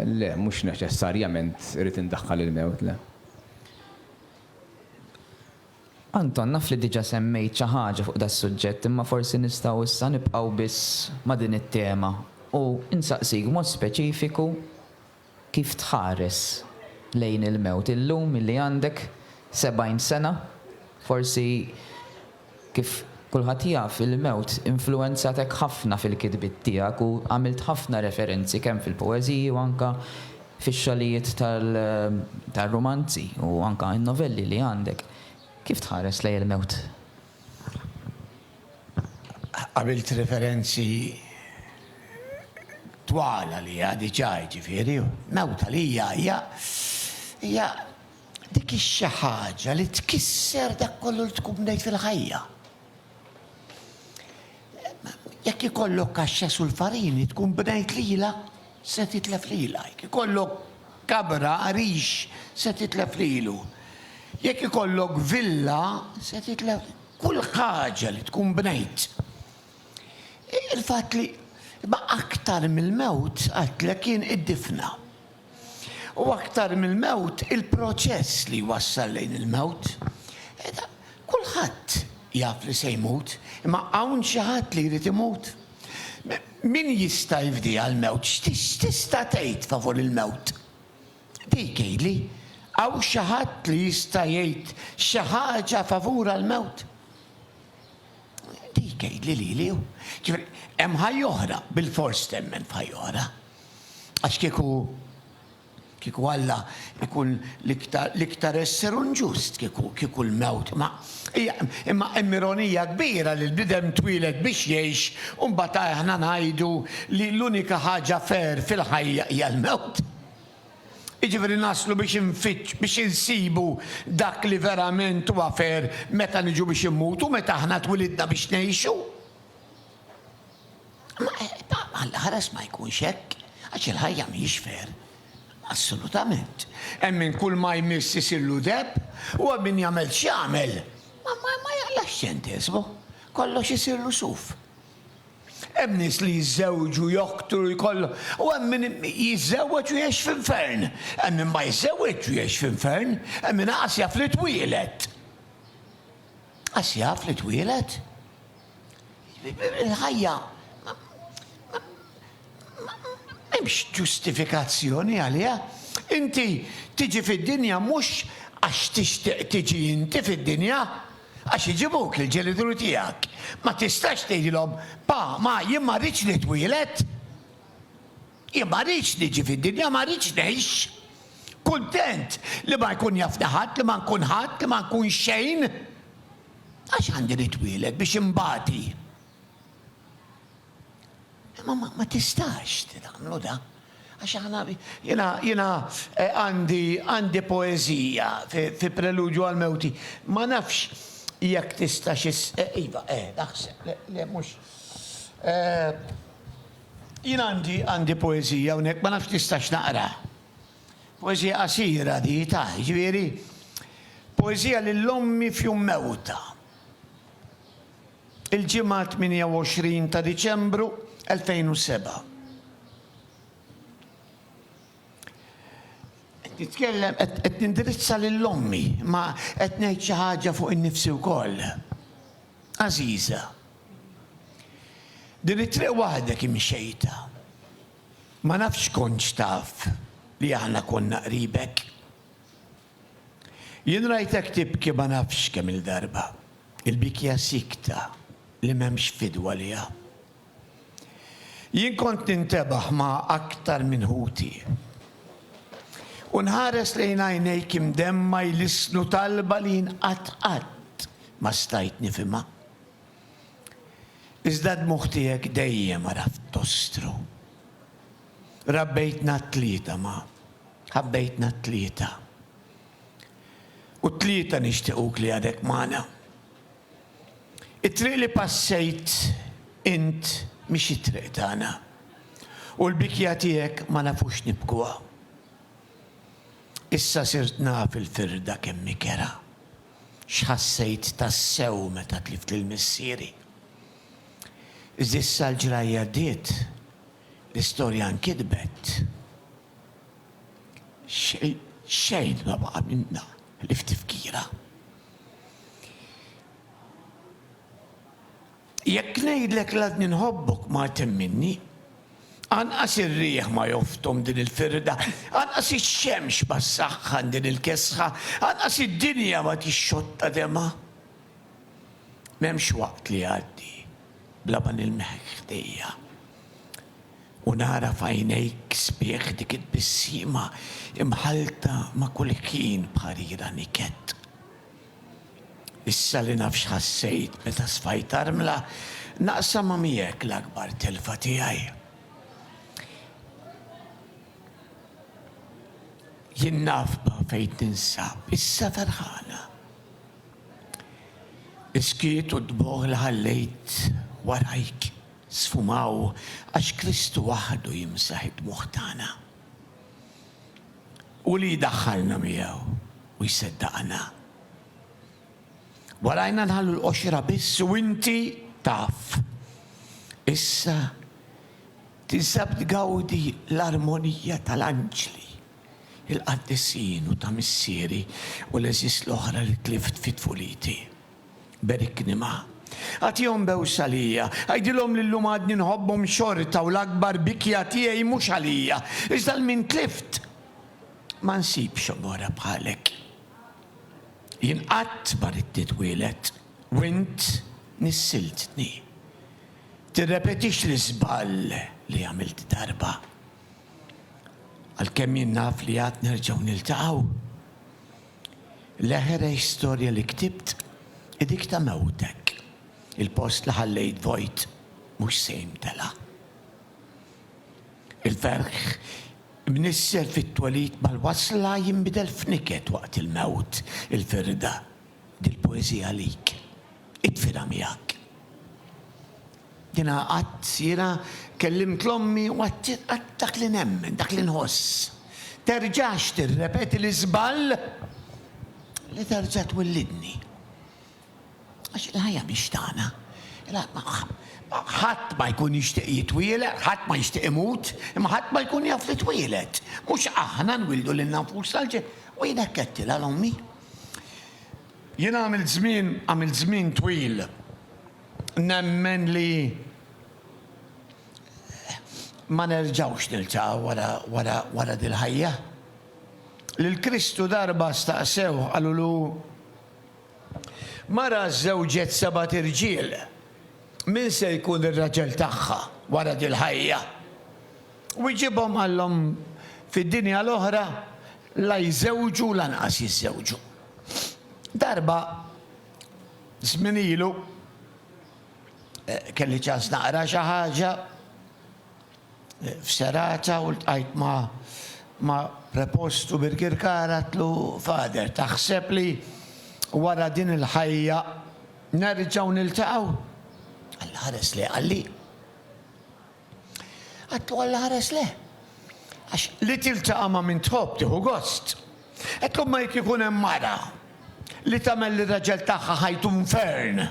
le, mhux neċessarjament irrid indaħħal il-mewt, le. Anton, naf li diġa semmejt xi ħaġa fuq das-suġġett imma forsi nistgħu issa nibqgħu biss ma' din it-tema u nsaqsik b'mod speċifiku kif tħares lejn il-mewt illum illi għandek 70 sena. Forsi kif kulħadd jaf il-mewt influwenzatek ħafna fil-kitbiet tiegħek u għamilt ħafna referenzi kemm fil-poeżiji u anke Fix-xogħlijiet tar-rumanzi u anke n-novelli li għandek, kif tħares lejn il-mewt? Għamilt referenzi twal għaliha diġà, jiġifieri mewt għalija hija hija dik ix-xi ħaġa li tkisser dak kollu li tkun bnejt fil-ħajja. Jekk ikollok kaxxa sulfarini tkun bnejt lilha se titlef lilha. Jekk ikollok kabra għarix se titlef lilu. Jekk ikollok villa se titlef kull ħaġa li tkun bnejt. Il-fatt li imma aktar mill-mewt għidtlek jien id-difna. U aktar mill-mewt, il-proċess li jwassal lejn il-mewt. Kulħadd jaf li se jmut, imma hawn xi ħadd li jrid imut? Min jista' jifdiha l-mewt? X'tista' tgħid favur il-mewt? Dik għidli, hawn xi ħadd li jista' jgħid xi ħaġa favur għall-mewt? Dik għidli lili hu. Ġifieri, hemm ħajja oħra, bilfors temmen f'ħajja oħra. Għax kieku, kieku Alla jkun l-iktar, l-iktar esser u nġust kieku, kieku l-mewt ma. Hija, imma hemm ironija kbira li l-bniedem twieled biex jgħix u mbagħad aħna ngħidu li l-unika ħaġa fair fil-ħajja hija l-mewt. Jiġifieri naslu biex infittx, biex insibu dak li verament huwa fair meta niġu biex immutu, meta aħna twilidna biex ngħixu. Alla ħares ma jkunx hekk, għax il-ħajja mhijiex fair. Assolutament. Hemm min kull ma jmiss isillu deb, u hemm min jagħmel x'jagħmel ma jaqlax ċentesmu. Kollox isirlu suf. Hemm nies li jiżżewġu, joktru, jkollhom, u hemm min jiżżewweġ u jgħix f'infern. Hemm min ma jiżżewweġx u jgħix f'infern, hemm min anqas jaf li twieled. Qas jaf li twieled. Il-ħajja m'hemmx ġustifikazzjoni għaliha. Inti tiġi fid-dinja mhux għax tixtieq tiġi inti fid-dinja, għax iġibuk il-ġenituri tiegħek. Ma tistax tgħidilhom, Pa, Ma, jien ma rridx nitwieled. Jien ma rridx niġi fid-dinja, ma rridx ngħix. Kuntent li ma jkun jafni ħadd, li ma nkun ħadd, li ma nkun xejn. Għax għandi nitwieled biex inbati? Imma ma tistax tagħmlu dan. Għax aħna jiena jiena eh, għandi għandi poeżija fi preludju għal mewti. Ma nafx jekk tistax is eh, iva, eh, naħseb, le mhux. Eh, jien għandi għandi poeżija hawnhekk ma nafx tistax naqra. Poeżija qasira di ta', jiġifieri, poeżija lil ommi f'jum mewtha. Il-Ġimgħa 28 ta' Diċembru 2007. Qed nitkellem qed nindirizza lil ommi, imma qed ngħid xi ħaġa fuq innifsi wkoll. Għażiża. Din it-triq waħdek imxejtha. Ma nafx kontx taf li aħna konna qribek. Jien rajtek tibki ma nafx kemm-il darba. Il-bikja siekta li m'hemmx fidwa liha. Jien kont nintebaħ ma' aktar minn ħuti. U nħares lejn għajnejk imdemma jlissnu talba li jien qatt qatt ma stajt nifhimha. Iżda d-dmugħ tiegħek dejjem għaraft tostru. Rabbejtna t-tlieta ma ħabbejtna t-tlieta. U t-tlieta nixtiequk li għadek magħna. It-triq li passejt int mhix it-triq tagħna. U l-bikja tiegħek ma nafux nibkuha. Issa sirt naf il-firda kemm hi kerha. X'ħassejt tassew meta tlift lil missieri? Iżda issa l-ġrajja għaddiet, l-istorja nkitbet. Xejn ma baqa' minnha ħlief tifkira. Jekk ngħidlek l-għadni nħobbok ma temminni. Anqas ir-riħ ma joftom din il-firda, anqas ix-xemx ma ssaħħan din il-kesħa, anqas id-dinja ma tixxotta demgħa. M'hemmx waqt li jgħaddi bla ma nilmħek ħdejja u nara f'għajnejk sbieħ dik it-tbissima imħallta ma' kull ħin b'ħarira niket. Issa li naf x'ħassejt meta sfajt armla, naqsamha miegħek l-akbar telfa tiegħi. Jien nafba fejn ninsab, issa ferħana. Is-skiet u d-dmugħ li ħallejt warajk sfumaw għax Kristu waħdu jimsaħ id-dmugħ tagħna. u li jdaħħalna miegħu u jseddaqna. Warajna nħallu l-qoxra biss u inti taf. Issa tinsab tgawdi l-armonija tal-anġli, il-qaddisin u ta' missieri u l-għeżież l-oħra li tlift fi tfuliti. Berikni ma. Agħtihom bewsa għalija. Għidilhom li llum għadni nħobbhom xorta u l-akbar bikja tiegħi mhux għalija, iżda 'l min tlift. Ma nsibx omora bħalek. Jien qatt ma ridt nitwieled u int nissiltni. Tirrepetix l-iżball li għamilt darba. Għalkemm jien naf li għad nerġgħu niltaqgħu. L-aħer istorja li ktibt hi dik ta' mewtek. Il-post li ħallejt vojt mhux se jimtela. Il-ferħ imnissel fit-twelid mal-wasla jinbidel f'niket waqt il-mewt. Il-firda, dil-poeżija għalik. Itfilha miegħek. Jiena qatt, Sira, kellimt 'l ommi u għattiet qatt dak li nemmen, dak li nħoss. Terġax tirrepeti l-iżball li terġa' twellidni. Għax il-ħajja mhix tagħna. Ħadd ma jkun jixtieq jitwieled, ħadd ma jixtieq imut, imma ħadd ma jkun jaf li twieled. Mhux aħna nwildu lilna nfusna l-ġen. U jien hekk għedtilha 'l ommi. Jiena għamilt żmien, għamilt żmien twil. Nemmen li ma nerġgħux niltaqgħu wara dil-ħajja. Lil Kristu darba staqsewh, qalulu, Mara żżewġet sebat irġiel, min se jkun ir-raġel tagħha wara dil-ħajja? Wiġibhom qalhom, Fid-dinja l-oħra la jżewġu lanqas jiżżewġu. Darba Żmien ilu kelli ċans naqra xi ħaġa f'serata u ltqajt ma' prepost u birkirkar għadtlu, Father, taħseb li wara din il-ħajja nerġgħu niltaqgħu? Alla ħares lejh qalli. Għedtlu għall-ħares le. Għax li tiltaqa' ma' min tħobb tieħu gost. Għedtlu imma jekk ikun hemm mara li tagħmel lir-raġel tagħha ħajtu nfern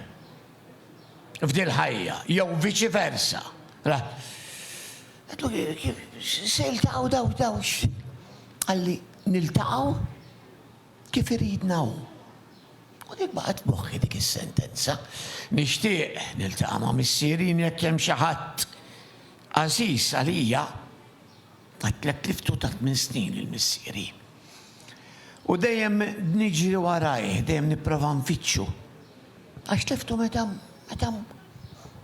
f'dil-ħajja jew viċi versa. Ra. Għedtlu kif se jiltaqgħu daw, daw x'. Qalli, niltaqgħu? Kif iridna Hu. U dik baqgħet f'moħħi dik is-sentenza. Nixtieq niltaqa' ma' Missieri jekk hemm xi ħadd għażiż għalija. Għidtlek li ftu ta' tmien snin lil Missieri. U dejjem niġri warajh, dejjem nipprova nfittxu. Għax tliftu meta, meta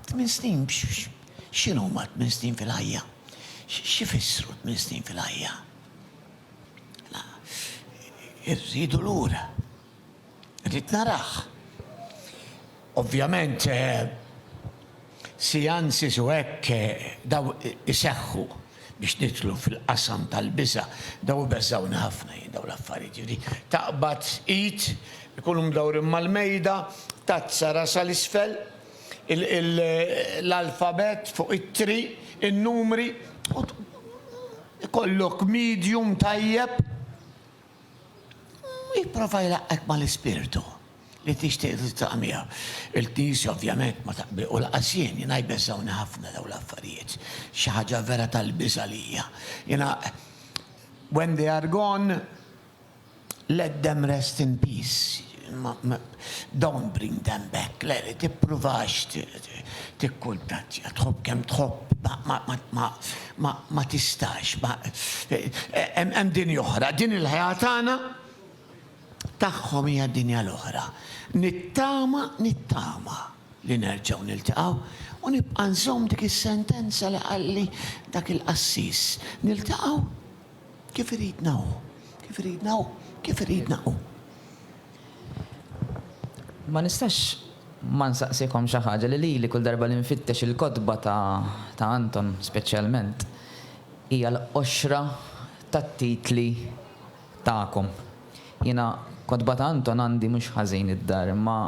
tmien snin, x'inhuma tmien snin fil-ħajja? X'ifissru tmien snin fil-ħajja? Irridu lura. Rrid narah. Ovvjament, seances u hekk daw iseħħu biex nidħlu fil-qasam tal-biża'. Daw ibeżżgħuni ħafna jien daw l-affarijiet. Jiġifieri taqbad id, ikunu mdawrin mal-mejda, tazza rasha 'l isfel, l-alfabett fuq ittri, in-numri, u jkollok medium tajjeb. U jipprova jlaqqgħek mal-Ispirtu li tixtieq tiltaqa' miegħu. Il-Knisja ovvjament ma taqbi, u lanqas jien, jiena jbeżżgħuni ħafna dawn l-affarijiet. Xi ħaġa vera tal-biża' għalija. Jiena when they are gone, Let them rest in peace, don't bring them back, le le tippruvax tikkuntattja, tħobb kemm tħobb ma tistax, hemm dinja oħra, din il-ħajja tagħna tagħhom hija dinja l-oħra. Nittama, nittama li nerġgħu niltaqgħu u nibqa' nżomm dik is-sentenza li qalli dak il-qassis, niltaqgħu? Kif iridna hu? Kif iridna hu? Kif iridna hu? Ma nistax ma nsaqsikom xi ħaġa li lili kull darba li nfittex il-kotba ta' Anton speċjalment hija l-qoxra tat-titli tagħkom. Jiena kotba ta' Anton għandi mhux ħażin id-dar imma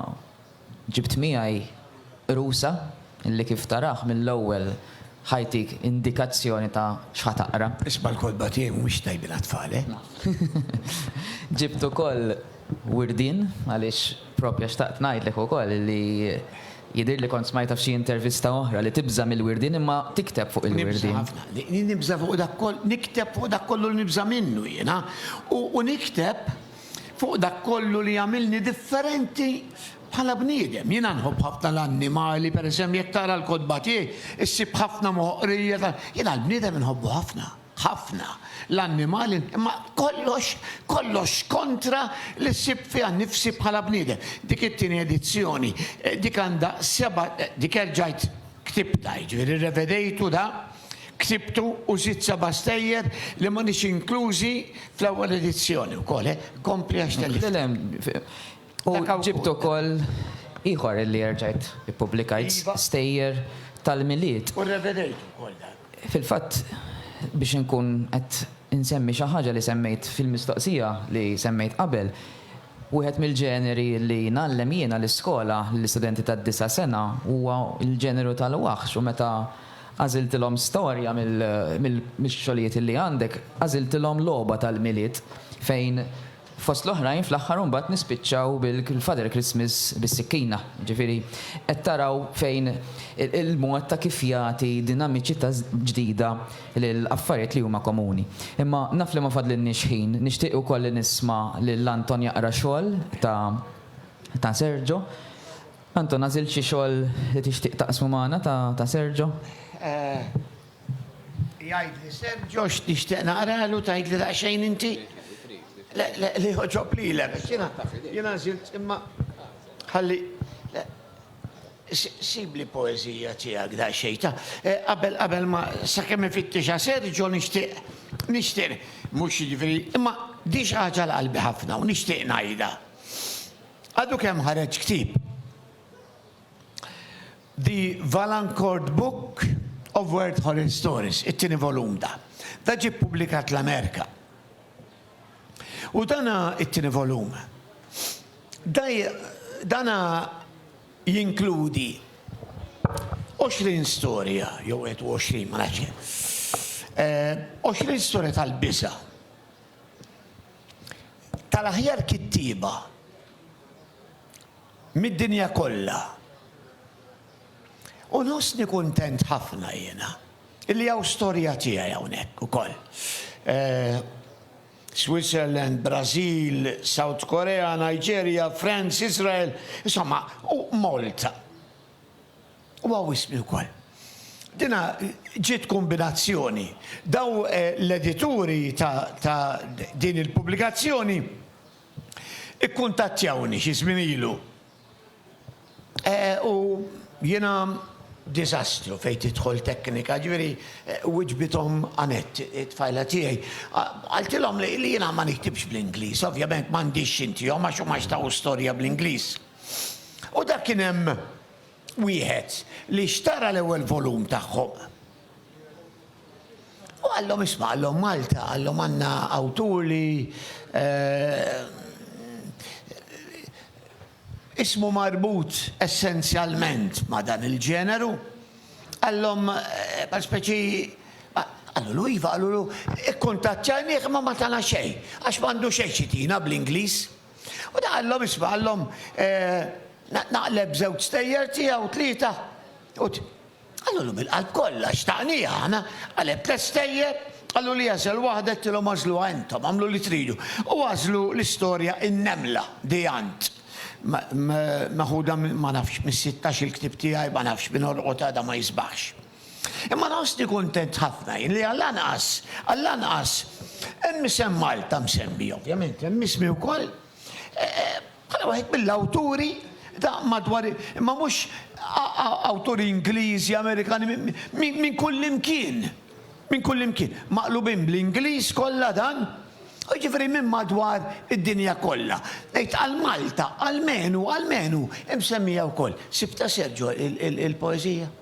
Ġibt miegħi rusa li kif tarah mill-ewwel ħa jtik indikazzjoni ta' x'ħa taqra. Isma' l-kotba tiegħi mhumiex tajbin għat-tfal, eh? Ġibt ukoll wirdien għaliex proprja xtaqt ngħidlek ukoll li jidhirli kont smajtha f'xi intervista oħra li tibża' mill-wirdien imma tikteb fuq il-wirdien. Nibża' ħafna. Nibża' fuq dak kollu, nikteb fuq dak kollu li nibża' minnu jiena u nikteb. Fuq dak kollu li jagħmilni differenti bħala bniedem. Jiena nħobb ħafna l-annimali, pereżem jekk taqra l-kotba tiegħi, issib ħafna moħqrija ta'. Jiena l-bniedem inħobbu ħafna. Ħafna. L-annimali, imma kollox, kollox kontra li ssib fiha nnifsi bħala bniedem. Dik it-tieni edizzjoni, dik għandha seba', dik erġajt ktibtha, jiġifieri rrevedejtu da. Ksibtu u żidt seba' stejjer li m'għadhiex inklużi fl-ewwel edizzjoni wkoll, eh. Kompli għax tellift. Le, le. U ġibt ukoll ieħor li erġajt ippubblikajt, stejjer tal-Milied. U rrevedejt ukoll dan. Fil-fatt, biex inkun qed insemmi xi ħaġa li semmejt fil-mistoqsija li semmejt qabel, wieħed mill-ġeneri li ngħallem jiena l-iskola lill-istudenti tad-disa' sena huwa l-ġeneru tal-waħx u meta Għażiltilhom storja mix-xogħlijiet li għandek, għażiltilhom logħba tal-Milied fejn fost l-oħrajn fl-aħħar imbagħad nispiċċaw bil-Father Christmas bis-sikkina. Jiġifieri qed taraw fejn il-mod ta' kif jagħti dinamiċità ġdida lil affarijiet li huma komuni. Imma naf li ma fadlilniex ħin, nixtieq ukoll li nisma' lil Anton jaqra xogħol ta' Sergio. Anton, għażilt xi xogħol li tixtieq taqsmu magħna ta' Sergio? Jgħidli Sergio x'nixtieq naqralu, tgħidli daqsxejn inti? Le, le, li jogħġob lilek, għax jiena, jiena għażilt imma ħalli, le, sibli poeżija tiegħek daqsxejn ta', qabel, qabel ma, sakemm ifittixha Sergio nixtieq, nixtieq, mhux jiġifieri, imma di xi ħaġa 'l qalbi ħafna u nixtieq ngħidha. Għadu kemm ħareġ ktieb, The Valancourt Book of Weird Horror Stories, it-tieni volum da. Da ġie ppubblikat l-Amerika. U dana it-tieni volum, da dana jinkludi 20 storja, jew 21, ma nafx kemm, 20 storja tal-biża'. tal-aħjar kittieba mid-dinja kollha. U nħossni kuntent ħafna jiena li hawn storja tiegħi hawnhekk ukoll. Switzerland, Brażil, South Korea, Nigeria, France, Iżrael, insomma, u Malta. Huwa wisq ukoll. Dinha ġiet kombinazzjoni. Dawn l-edituri ta' din il-pubblikazzjoni ikkuntattjawni xi żmien ilu. U jiena diżastru fejn tidħol teknika, jiġifieri wiġbithom Annette, it-tfajla tiegħi. Qaltilhom li jiena ma niktibx bl-Ingliż, ovvjament m'għandix xi ntihom għax huma xtaqu storja bl-Ingliż. U dak kien hemm wieħed li xtara l-ewwel volum tagħhom. U qallhom isma' qallhom Malta, qallhom għandna awtur li ismu marbut essenzjalment ma' dan il-ġeneru. Qallhom bħal speċi qalulu iva, qalulu kkuntattjajnih imma ma tana xejn għax m'għandu xejn xi tina bl-Ingliż. U ta qallhom, Isma', qallhom, eh, naqleb żewġ stejjer tiegħu, tlieta, u t. Qalulu bil-qalb kollha, xtaqniha aħna, qaleb tliet stejjer, qalulu jagħżel waħda, għedtilhom għażluha intom, agħmlu li tridu, u għażlu l-istorja In-Nemla, The Ant, me, me, meħuda minn, ma nafx, mis-sittax-il ktieb tiegħi, ma nafx, min għolqot għada ma jisbaħx. Imma nħossni kuntent ħafna jien li għall-anqas, għall-anqas, hemm isem Malta msemmi, ovvjament hemm ismi wkoll, bħala wieħed mill-awturi ta' madwar, imma mhux awturi Ingliżi, Amerikani, minn kullimkien, minn kullimkien, maqlubin bl-Ingliż kollha dan, jiġifieri minn madwar id-dinja kollha. Ngħid għal Malta, almenu, almenu, imsemmija wkoll. Sibtha Sergio il-poeżija?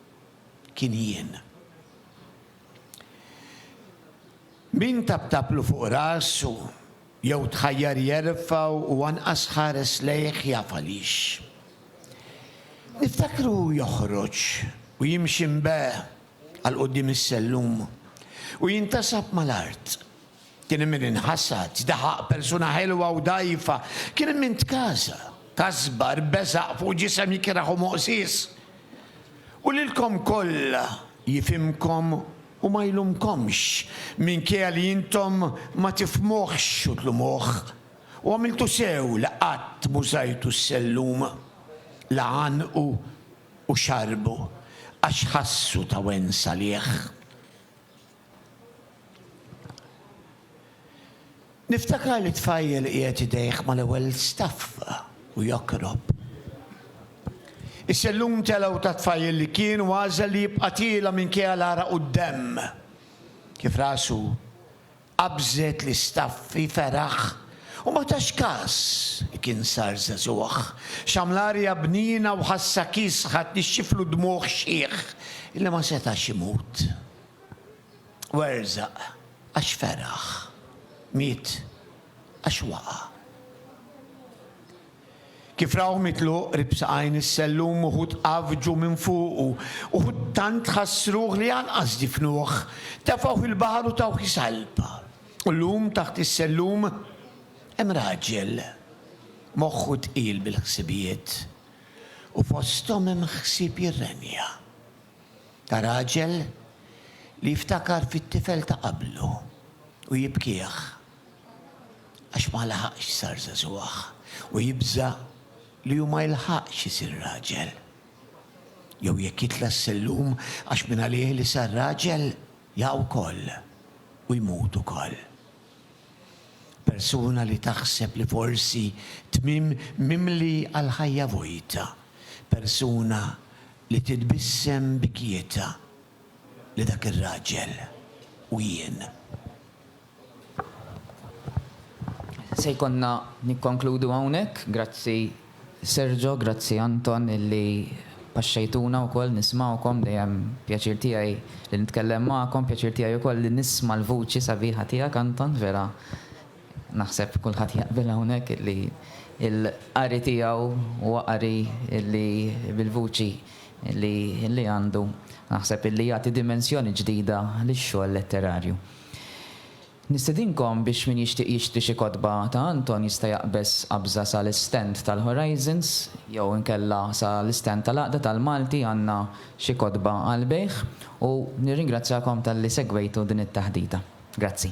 kien jien. Min tabtablu fuq rasu jew tħajjar jerfa' u anqas ħares lejh jaf għaliex. Niftakru hu joħroġ u jimxi mbe għal quddiem is-sellum u jintasab mal-art. Kien hemm min inħasad, daħaq persuna ħelwa u dgħajfa. Kien hemm min tkasa, kasbar, beżaq fuq ġisem ikrah u moqsies. U lilkom kollha jifhimkom u ma jlumkomx, minkejja li intom ma tifhmuhx u tlumuh. U għamiltu sew li qatt m'użajtu s-sellum, la għannqu u xarrbu, għax ħassu ta' wens għalih. Niftakar li tfajjel qiegħed idejh mal-ewwel staffa u jokrob. Is-sellum telgħu tat-tfajjel li kien u għażel li jibqa' tiela' minkejja l-għaraq u d-demm. Kif rasu qabżet l-istaffi feraħ u ma tax każ li kien sar żagħżugħ. Xamm l-arja bniena u ħassha kiesħa tnixxiflu d-dmugħ xħiħ illi ma setax imut. Werzaq għax feraħ, miet għax waqa'. Kif rahu mitluq qrib saqajn is-sellum uħud għaffġu minn fuqu, uħud tant ħassruh li anqas difnuh, tefgħuh il-baħar u tawh is-salpa. U llum taħt is-sellum hemm raġel moħħu tqil bil-ħsibijiet u fosthom hemm ħsieb jirrenja. ta' raġel li jiftakar fit-tifel ta' qablu u jibkih għax ma laħaqx sar żagħżugħ u jibża' li hu ma jilħaqx isir raġel. Jew jekk jitla' s-sellum għax mingħalih li sar raġel jaqa' wkoll u jmut ukoll. Persuna li taħseb li forsi tmiem mimli għall-ħajja vojta, persuna Li titbissem b'kjietha li dak ir-raġel u jien. Se jkollna nikkonkludu hawnhekk. Grazzi Sergio, grazzi Anton illi paxxejtuna wkoll nismgħukom, dejjem pjaċir tiegħi li nitkellem magħkom, pjaċir tiegħi wkoll li nisma' l-vuċi sabiħa tiegħek Anton, vera Naħseb kulħadd jaqbel hawnhekk illi l-qari tiegħu huwa qari illi bil-vuċi illi illi għandu naħseb illi jagħti dimensjoni ġdida lix-xogħol letterarju. Nistedinkom biex min jixtieq jixtri xi kotba ta' Anton jista' jaqbeż qabża sa l-istand tal-Horizons jew inkella sa l-istand tal-Għaqda tal-Malti għandna xi kotba għall-bejgħ u nirringrazzjakom talli segwejtu din it-taħdita. Grazzi.